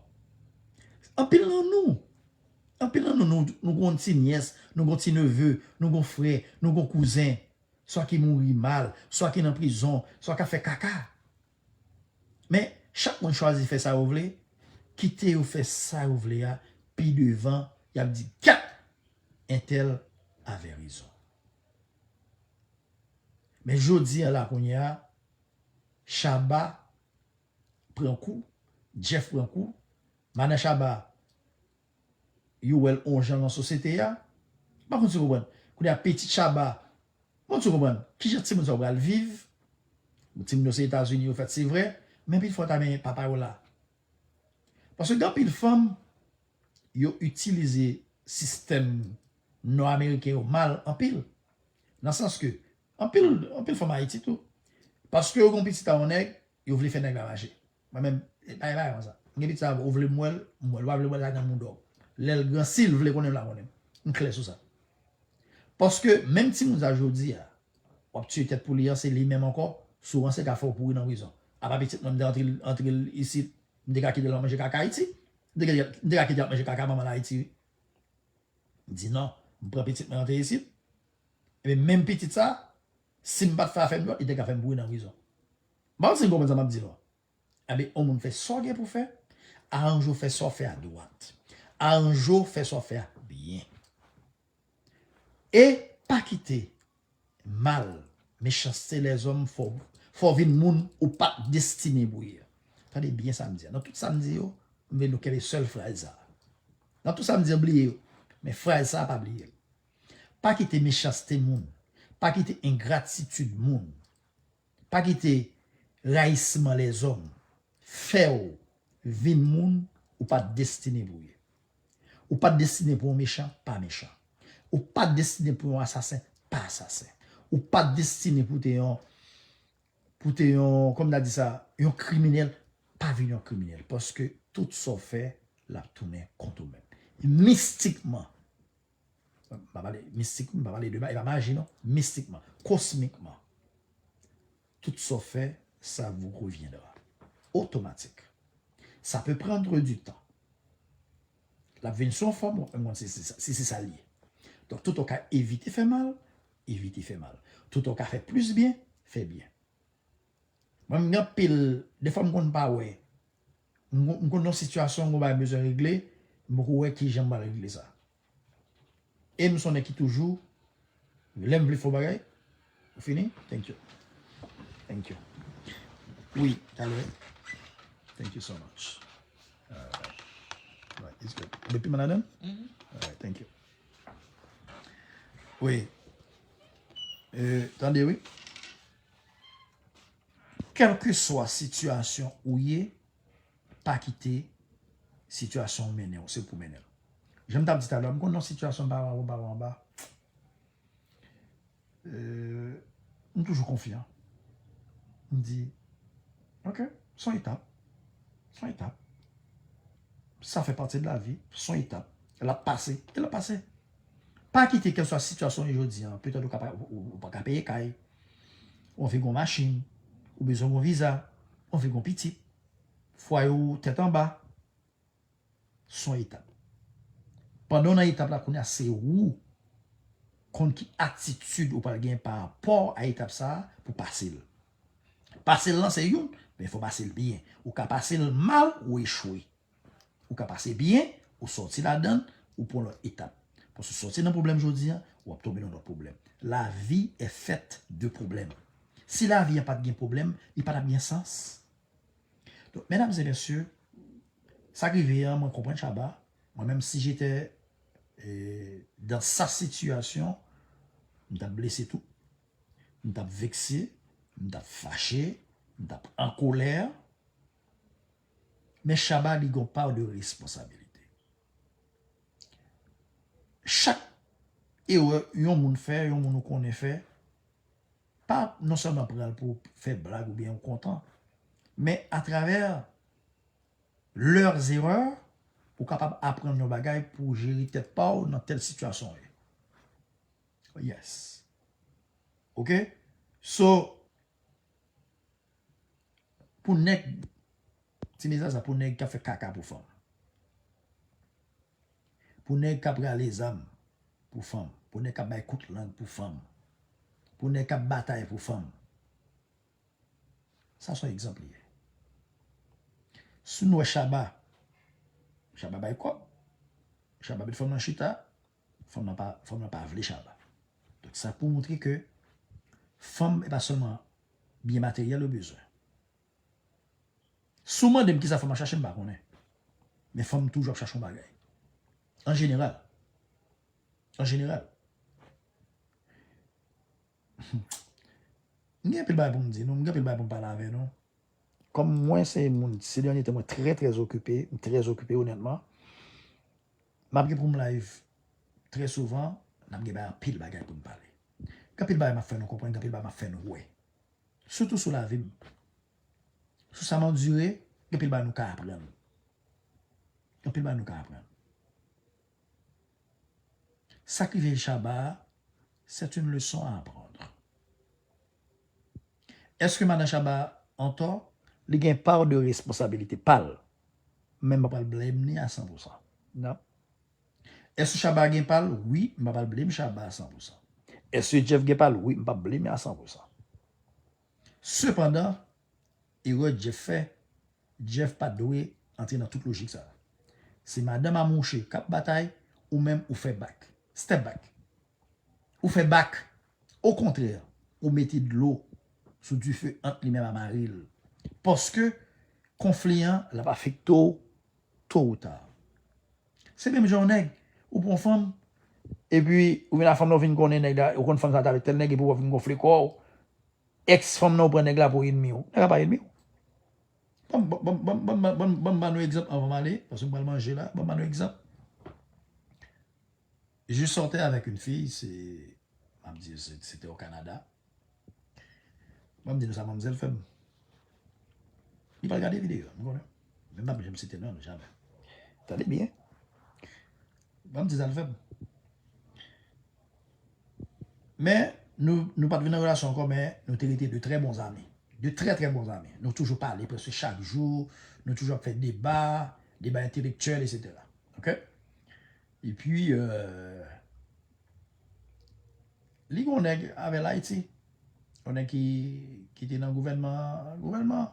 [SPEAKER 1] Anpil nan nou, anpil nan nou nou gon ti nyès, nou gon ti neve, nou gon frè, nou gon kouzen, swa ki mouri mal, swa ki nan prizon, swa kap fè kaka. Men, chak moun chwazi fè sa yo vle, kite yo fè sa yo vle a, pi devan, yap di kat entèl avè rezon. Men jodi an la kounye a Shabba pran kou, Jeff pran kou, Mannan Shabba yo wè l on jan lan sosyete a, m pa konn si w konprann. Kounye a pitit Shabba, m pa konn si w konprann, ki jan timoun sa yo pral viv? Bon timoun yo se Etazini yo fèt se vre, men pi fò ta gen papa yo la. Paske gen anpil fanm yo itilize sistèm nò ameriken yo mal anpil. Nan sans ke anpil anpil fanm ayiti tou paske yo gen yon pitit a yon nèg yo vle fè nèg la mache. Mwen menm e pa gen bagay konsa. M gen pitit a ou vle m wè l m wè l ou pa vle m wè l la gran moudon w. Lè l gran si l vle konnen l la konnen. M klè sou sa. Paske menm timoun sa jodi a. Wap tiye tèt pou li an se li menm ankò sou ranse ka fè w pouri nan prizon apa pitit mwen m te antre antre l isit m te ka kite l ap manje kaka ayiti m te kite m te ka kite l ap manje kaka manman l ayiti wi m di nan m pran pitit mwen antre isit ebyen menm pitit sa si m pat fè afè m dwòt li te ka fè m pouri nan prizon m pa konn si n konprann sa map di nou an. Anben yon moun fè sa w gen pou w fè, aranje w fè sa w fè a dwat. Aranje w fè sa w fè a byen. E pa kite mal, mechanste lèzòm fè w vin moun ou pa t destine pou w ye. Tande byen sa m di a. Nan tout sa m di yo, m vle nou kenbe sèl fraz sa a. Nan tout sa m di yo, bliye yo. Men fraz sa a pa bliye l. Pa kite mechanste moun, pa kite engratitid moun. Pa kite rayisman lèzòm fè w vin moun ou pa destine pou w ye. Ou pa destine pou yon mechan, pa mechan. Ou pa destine pou yon asasen, pa asasen. Ou pa destine pou w te yon, pou w te yon, kòman ta di sa, yon kriminèl, pa vin yon kriminèl. Paske tout sa w fè, l ap tounen kont ou menm. Mistikman, Mpa pale mistik, mpa pale de maji, e pa maji non, mistikman, kosmikman, tout sa w fè, sa vou revyendra. Otomatik. Sa pe prandre di tan. L ap vin sou yon fòm, w ap menm konn si se sa l ye. Donk tout an w ka evite fè mal, evite fè mal. Tout an w ka fè plis byen, fè byen. Mwen m gen anpil, defwa m konn pa wè. M konn yon sitiyasyon yon bagay bezwen regle, m poko wè kijan m pral regle sa. E m son nèg ki toujou lè m vle fè yon bagay, ou fini? Thank you. Thank you. Wi, talè. Thank you so much. Alright. Alright, it's good. Depi m ladan? Alright, thank you. Wi. Tande wi. Kèlkeswa sitiyasyon ou ye, pa kite sitiyasyon an mennen w, se ou pou mennen l. Jan m t ap di talè, m konn nan sitiyasyon m pa wè anwo, m pa wè anba, m toujou konfyan. M di, ok, s on etap, s on etap. Sa fè pati de lavi, s on etap. L ap pase, e l ap pase. Pa kite kèlswa sitiyasyon ou jodi an, petèt ou ka pa, ou pa ka peye kay, ou anvi gon machin, ou bezwen gon viza, ou anvi gon pitit, fwaye ou tèt anba, son etap. Pandan ou nan etap la kounya se ou konn ki atitid ou pral gen parapò a etap sa pou pase l. Pase l lan se youn, men fò pase l byen. Ou ka pase l mal ou echwe. Ou ka pase byen, ou sòti ladan, ou pran lòt etap. Paske ou sòti nan pwoblèm jodi a, ou ap tonbe nan lòt pwoblèm. Lavi è fèt de pwoblèm. Si lavi an pat gen pwoblèm, li pa tap gen sans. Donk, medam e mesye, sa k rive an, mwen konprann Shabba, mwen menm si jete dans sa sitiyasyon, m tap blese tou, m tap vekse, m tap fache, m tap an kolè. Men Shabba li gon part de responsabilité. Chak erè yon moun fè, yon moun ou konnen fè, pa non sèlman pran l pou fè blag oubyen ou kontan, men a travers leurs erreurs ou kapab aprann yon bagay pou w jere tèt pa w nan tèl sitiyasyon w ye. Yes. Ok? So. Pou nèg tine zaza pou nèg kap fè kaka pou fanm. Pou nèg kap rale zam pou fanm. Pou nèg kap bay kout lang pou fanm. Pou nèg kap batay pou fanm. Sa son egzanp li ye. Si nou wè Shabba, Shabba bay kòb. Shabba met fanm nan chita. Fanm lan pa fanm lan pa vle Shabba. Donk sa pou montre ke fanm e pa sèlman byen materyèl yo bezwen. Si w mande m kisa fanm ap chache m pa konnen. Men fanm toujou ap chache yon bagay. An jeneral. An jeneral. M gen anpil bagay pou m di nou. M gen anpil bagay pou m pale avè nou. Kòm mwen se yon moun se dènye tan mwen trè trè okipe. M trè okipe onètman. Map gen poum live trè souvan nap gen bay anpil bagay poun pale gen anpil bagay map fè nou konprann gen anpil bagay map fè nou wè sitou sou lavim sou sam andire gen anpil bagay nou ka aprann gen anpil bagay nou ka aprann sak rive Shabba a c'est une leçon à apprendre. Eske madan Shaba antò? Li gen part de responsabilité pal. Men m pa pral blame li a 100 pou 100. Non. Eske Shaba gen pal? Wi, m pa pral blame Shaba a 100 pou 100. Eske Jeff gen pal? Wi, m pap blame li a 100 pou 100. Sepandan, erè Jeff fè, Jeff pat dwe antre nan tout lojik sa. Se madanm a mouche kap batay, ou menm ou fè back. Step back. Ou fè bak. Okontrè, ou mete dlo sou dife ant li menm a mari l. Paske, konfli an, l ap afekte w to ou ta. Se menm jan yon nèg, ou pran yon fanm, epi ou vin ak fanm nan ou vin konnen nèg la, ou konn fanm sa te avèk tèl nèg epi wap vin gonfle kò w, èks fanm nan ou pran nèg la pou enmi w. Nèg la pa enmi w. Banm ba nou egzanp anvan m ale, paske m pral manje la, banm ba nou egzanp. Je sortais avec une fille, se map di se te o Kanada. Map di nou sa manmzèl fèm. Li pa gade video, nou konnen. Men m pap janm site non l jamè. Tande byen. Map di sa l fèm. Men nou pat vin nan relasyon ankò men nou te rete de trè bon zami. De trè trè bon zami. Nou toujou pale preske chak jou, nou toujou ap fè deba, deba entelektyèl etc. Ok. E pi li gon nèg avèl Ayiti. Yon nèg ki te nan gouvènman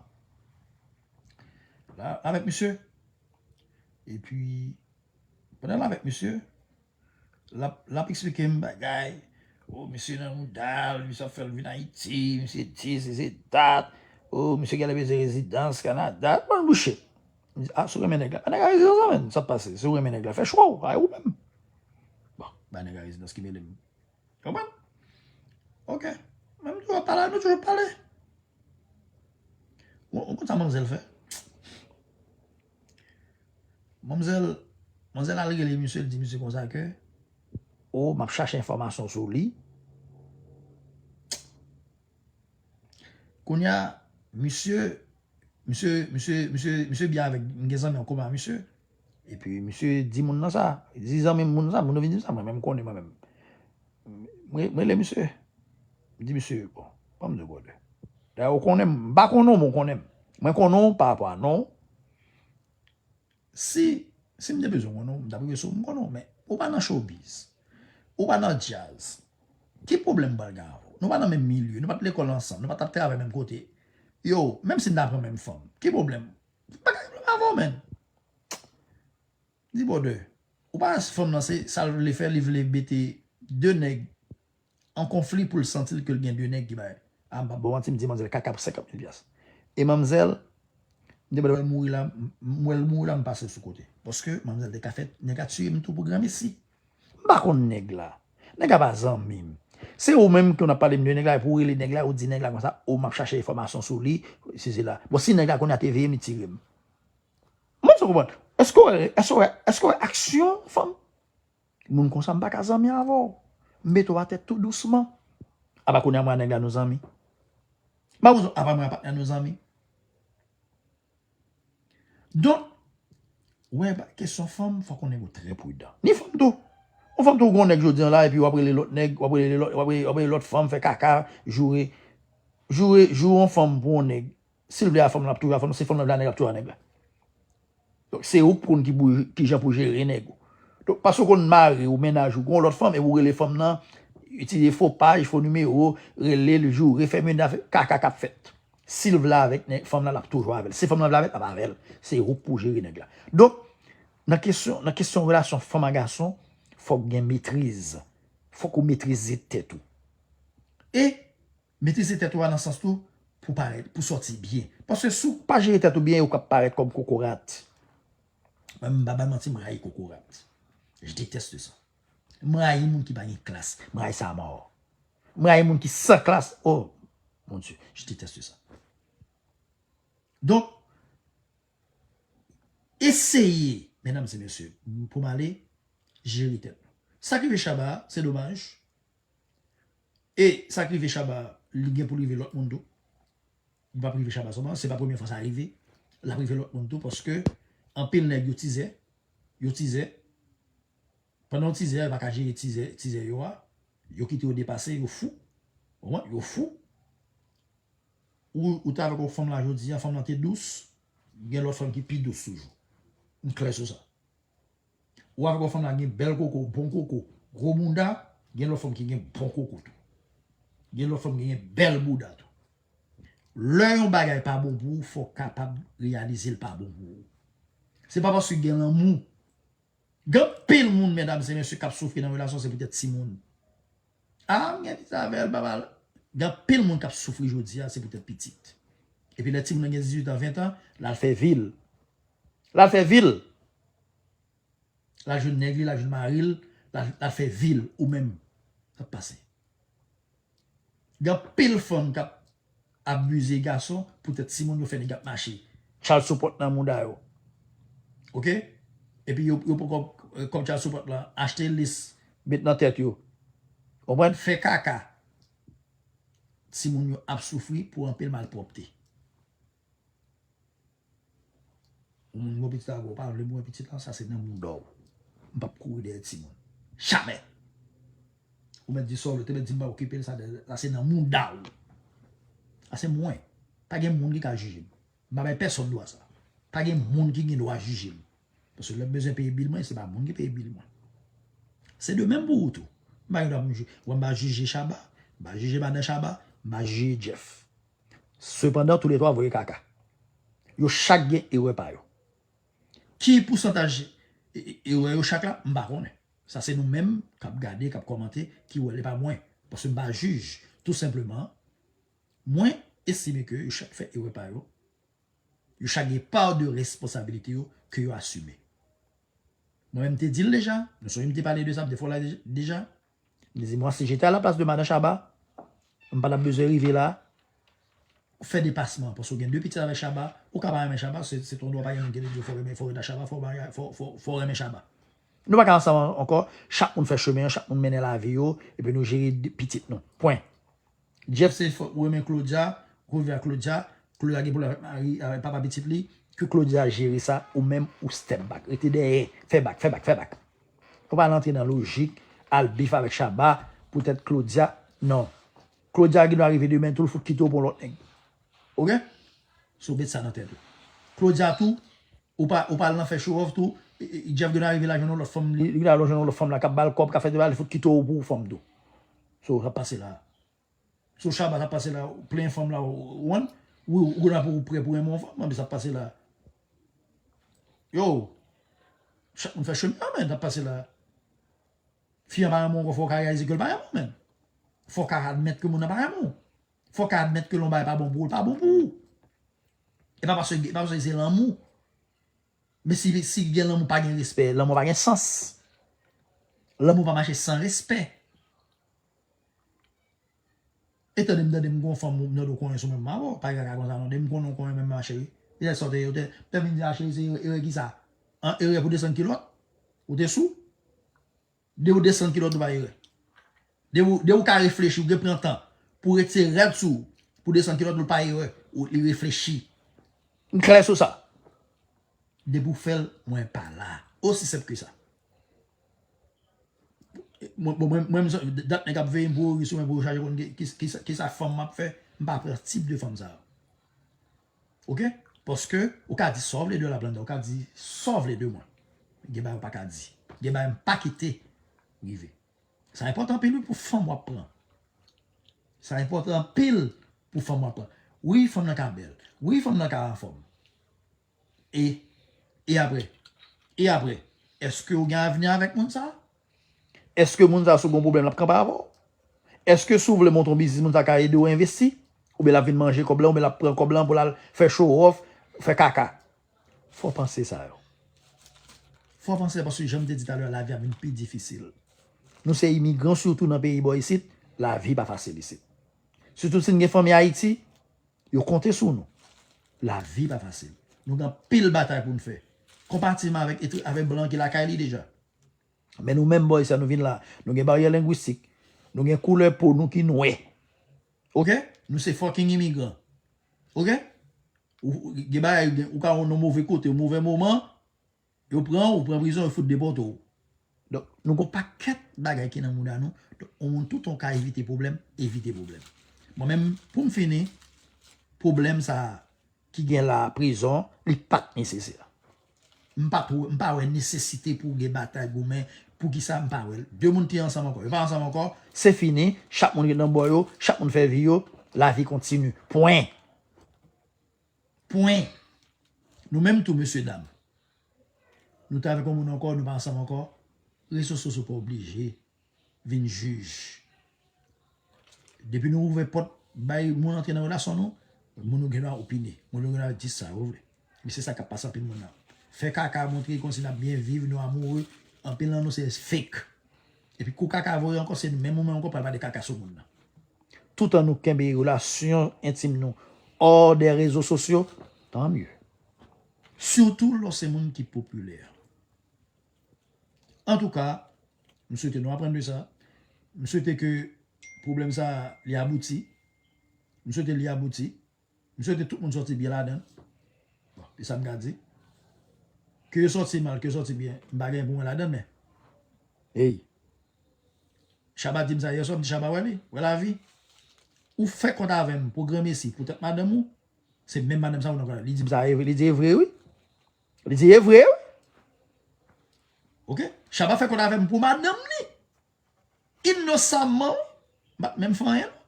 [SPEAKER 1] la avèk misye. E pi pandan l avèk misye l ap eksplike m bagay. O misye nan mouda l, misye ap fè l vin Ayiti, misye di se se dat. O misye genlè bezwen rezidans Kanada. Bon bouche. Ah, si w renmen nèg la. Ba nèg la rezidans la menn. Sa k pase? Si w renmen nèg la, fè chwa w. Ay ou menm. Bon, ba nèg la rezidans ki mele m. Konprann? Ok. Mwen m toujou pale, nou toujou pale. Ou konn sa manmzèl fè? Manmzèl, manmzèl al rele misye, l di misye konsa ke, o, m ap chache enfòmasyon sou li. Kounya misye misye misye misye misye byen avèk m gen zanmi an koma avèk misye epi misye di moun nan sa li di zanmi m moun sa moun nan vin di m sa mwen menm m konnen mwen menm m rele misye m di misye bon ban m de gode dayè ou konnen m m pa konnen w men w konnen m mwen konnen w parapò a non w Si, si m te bezwen konnen w, m t ap rive sou w, m konnen w men ou pa nan showbiz, ou pa nan djaz, ki pwoblèm m pral gen avè w? Nou pa nan menm milye, nou pa t lekòl ansanm, nou pa t ap travay menm kote. Yow, menm si m ta pran menm fanm, ki pwoblèm? M pa gen pwoblèm avè w menn. Di bòdè, ou pa fanm nan se sa l vle fè, li vle mete 2 nèg an konfli poul santil kel gen 2 nèg ki bay. Ah m pap baw manti m di manzèl kaka pou 50 mil pyas. E manmzèl m te wèl mouri la m wèl mouri la m pasel sou kote. Paske manmzèl te ka fè nèg la tiyem tou pou granmesi. M pa konn nèg la. Nèg la pa zanmim. Se ou menm ke w ap palem de nèg la epi ou rele nèg la ou di nèg la konsa ou map chache enfòmasyon sou li si se la. Bon si nèg la kounya te veyem li tirem. M pa menm si w konprann. Eske w wè eske w wè eske w wè aksyon fanm. Moun konsa m paka zanmi avè w. M mete w atè tou dousman. Apa kounye a mwen ak nèg la nou zanmi? Ba ou zo apa mwen ak patnè nou zanmi? Donk, wè ba kesyon fanm fòk yon nèg ou trè pridan. Ni fanm tou. Yon fanm tou ou gen yon nèg jodi an la epi w ap rele lòt nèg, w ap rele lòt, w ap rele lòt fanm fè kaka, joure. Joure, joure yon fanm pou yon nèg. Silvya a fanm lan ap toujou a fanm lan, si fanm lan vle a nèg la ap toujou a nèg la. Donk se ou k konn ki pou kijan pou jere nèg ou. Donk paske ou konn mari ou, mennaj ou, gon lòt fanm epi ou rele fanm lan, itilize fo paj, fo nimewo, rele l, joure, fè mennaj, kaka k ap fèt. Si l vle avèk nèg, fanm lan l ap toujou avè l. Si fanm lan vle avè l, l ap avè l. Se ou k pou jere nèg la. Donk nan kesyon, nan kesyon relasyon fanm a gason, fòk gen metriz. Fòk ou metrize tèt ou. E. Metrize tèt ou a nan sans tou pou parèt, pou sòti byen. Paske si w pa jere tèt ou byen ou ka parèt kòm kokorat. Mwen menm m pa bay manti m rayi kokorat. Je deteste ça. M rayi moun ki pa gen klas. M rayi sa a mort. M rayi moun ki san klas. Oh mon Dieu, je deteste ça. Donk, eseye, mesdames et messieurs, pou m ale, jere tèt nou. Sa ki rive Shabba a, se domaj, E sak rive Shabba li gen poul rive lòt moun tou. Li pap rive Shabba sèlman, se pa premye fwa sa rive. Lap rive lòt moun tou paske anpil nèg yo tizè, yo tizè. Pandan yo tizè yo pa ka jere tizè, tizè yo a. Yo kite yo depase, yo fou. Ou konprann? Yo fou. Ou te avèk yon fanm la jodi a, fanm lan te dous, gen lòt fanm ki pi dous toujou. M klè sou sa. Ou avèk yon fanm la gen bèl koko, bon koko, gwo bounda, gen lòt fanm ki gen bon koko tou. Gen lòt fanm ki gen bèl bouda tou. Lè yon bagay pa bon pou ou, fò w kapab reyalize l pa bon pou ou. Se pa paske gen lanmou. Gen anpil moun medam se mesye k ap soufri nan relasyon se poutèt timoun. A m gen pitit avè l, papa l. Gen anpil moun k ap soufri jodi a se poutèt pitit. Epi lè timoun nan gen 18 an, 20 an, l al fè vi l. Lal fè vil. Lal jwenn nèg li lal jwenn maril lal fè vil ou menm kap pase. Gen anpil fanm kap abize gason pou tèt timoun yo fè nèg ap mache child support nan mouda yo ok epi yo poko kòb child support lan achte lis met nan tèt yo konprann fè kaka timoun yo ap soufri pou anpil malpwòpte. Moun gwo pitit avè w pa vle mwen pitit lan sa se nan mouda w. M pap kouri dèyè timoun. Jamè! Ou mèt di sa w vle, te mèt di m pa okipe l sa se nan mouda w. Sa se mwen. Pa gen moun ki ka jije m. M pa bay pèsòn dwa sa. Pa gen moun ki gen dwa jije m. Paske lè m bezwen peye bil mwen, se pa moun ki peye bil mwen. Se de menm pou ou tou. M pa gen dwa pou m jije. Wè m pa jije Shabba, m pa jije madan Shabba, m pa jije Jeff. Sepandan tou le 3 voye kaka. Yo chak gen erè pa yo. Ki pousantaj erè yo chak la, m pa konnen. Sa se nou menm k ap gade, k ap kòmante ki wè l. E pa mwen. Paske m pa jij. Tou senpleman, mwen estime ke yo chak fè erè pa yo. Yo chak gen part de responsabilite yo ke yo asime. Mwen menm m te di l deja, nou sonje m te pale de sa plizyè fwa la deja. Di mwa si je te a la plas de madan Shaba, m pa tap bezwen rive la. Ou fè depasman paske ou gen 2 pitit avèk Shaba, ou ka pa renmen Shaba, se ton dwa pa gen moun ki te di ou fò renmen fò reta Shaba fò marye fò renmen Shaba. Nou pa ka ansanm ankò, chak moun fè chemen an, chak moun mennen lavi yo epi nou jere pitit nou. Pwen. Jeff se fok ou renmen Claudia, revu a Claudia, Claudia gen problème avèk mari avèk papa pitit li, ke Claudia jere sa ou menm ou step back rete dèyè fè back fè back fè back nou pa al antre nan lojik al bif avèk Shabba poutèt Claudia non Claudia gen dwa rive demen tou l fout kite w pou yon lòt nèg ok so met sa nan tèt ou Claudia tou ou pa ou pa al nan fè show off tou Jeff gen dwa rive la jwenn yon lòt fanm li gen dwa al jwenn yon lòt fanm la kap bal kòb kap fè tout bagay li fout kite w pou fanm tou. Saw rap pase la. Saw shabba rap pase la ou plenyen fanm la one wi ou la pou ou prè pou renmen yon fanm anbe sa ap pase la. Yow chak moun fè chemen yo men sa ap pase la. Fi an pa renmen w ankò fòw ka reyalize kel pa renmen w menn. Fòw ka admèt ke moun nan pa renmen w. Fòw ka admèt ke lè yon bagay pa bon pou ou l pa bon pou ou. E pa paske se lanmou. Men si si gen lanmou pa gen respè lanmou pa gen sans lanmou pa mache san respè e tande m tande m gon fanm m tande w konyen sou mwen ma boo pa gen bagay konsa non depi m konnen w konyen mwen ma cheri e lè sa w te ou te lè m vin di a cheri se erè kisa an erè pou desann kilòt ou te sou. De ou desann kilòt ou pa erè. De ou ka reflechi ou gen pran tan pou retire rad sou ou pou desann kilòt ou pa erè ou li reflechi. M klè sou sa. Depi ou fèl mwen pa la. Osi senp ke sa. Mwen dat nèg ap veyem pou yo ri sou mwen pou yo chache konn kisa fanm map fè m pa pran tip de fanm sa yo. Ok paske ou ka di sa w vle de lablanda ou ka di sa w vle de mwen gen bagay ou pa ka di gen bagay m pa kite rive sa enpòtan anpil wi pou fanm w ap pran sa enpòtan anpil pou fanm w ap pran wi fanm nan ka bèl wi fanm nan ka anfòm e e aprè e aprè èske ou gen avni avèk moun sa. Eske moun sa sou bon pwoblèm lap kanpe avèw? Eske si w vle monte yon biznis moun sa ka ede w envesti? Oubyen lap vin manje kòb lan oubyen lap pran kòb lan pou lal fè chowòf, fè kaka? Fo panse sa yo. Fo panse yo paske janm te di talè a lavi ap vin pi difisil. Nou se imigran sitou nan peyi bò isit, lavi pa fasil isit. Sitou si n gen fanmi Ayiti, yo konte sou nou. Lavi pa fasil. Nou gen anpil batay pou n fè. Konpatimman avèk blan ki lakay li deja. Men nou menm boy sa nou vin la, nou gen baryè lengwistik, nou gen koulè po nou ki nwè. Ok? Nou se fucking imigran. Ok? Gen bagay, ou ka yon move kote, yon move moman, yo pran ou, ou pran prizon, yo fout depote ou. Donk, nou gen yon pakèt bagay ki nan mouda nou, donk, yon moun toutan ou ka evite pwoblèm, evite pwoblèm. Mwen menm, pou m fini, pwoblèm sa a, ki gen la a, prizon, li pat nesesè. M pa two, m pa wè nesesite pou gen batay goumen, poukisa m pa wè l. De moun ki ansanm ankò, yo pa ansanm ankò, se fini, chak moun ret nan bò yo, chak moun fè vi yo, lavi kontini. Pwen. Pwen. Nou menm tou mesye dam, nou te avèk yon moun ankò, nou pa ansanm ankò, reso soso pa oblije. vin jij. Depi nou ouvè pòt bay moun antre nan relasyon nou, moun yo gen dwa opine. Moun yo gen dwa di sa yo vle. Men se sa k ap pase anpil moun nan. Fè kaka montre kòmsi n ap byen viv, nou amoure, anpil nan nou se fake. Epi kou kaka voye ankò se menm ou menm ankò pral pale kaka sou moun nan. Toutan nou kenbe relasyon entim nou hors des réseaux sociaux, tant mieux. Surtout lè w se moun ki popilè. Antouka, m swete nou aprann de sa. M swete ke pwoblèm sa a li abouti. M swete li abouti. M swete tout moun sòti byen ladan l. Bon, se sa m ka di. Ke yo sòti mal, ke yo sòti byen, m pa genyen pou mwen ladan l men. Ey! Shabba di m sa yè swa, m di Shabba wè li, wè lavi. Ou fè kont avè m pou granmesi, poutèt madanm ou, se menm madanm sa ou nan pral. Li di m sa e vre, li di e vre wi. Li di e vre wi. Ok Shabba fè kòd avèm pou madanm li inosamman m pat menm fè anyen non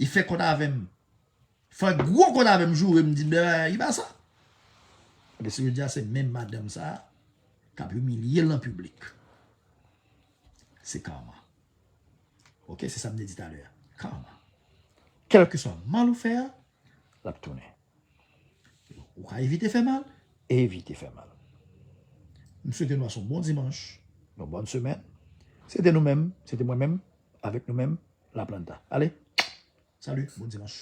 [SPEAKER 1] li fè kòd avèm fè gwo kòd avèm jourem di li pa sa ebyen se jodia se menm madanm sa kap imilyel an piblik se karma ok se sa m te di talè a karma kèlkeswa mal ou fè a L ap tounen. Ou ka evite fè mal. Evite fè mal. M swete nou pase yon bon dimanch. Yon bòn semèn. Se te nou menm, se te mwen menm, avèk nou menm, Laplanta. Ale, salut, bon dimanch.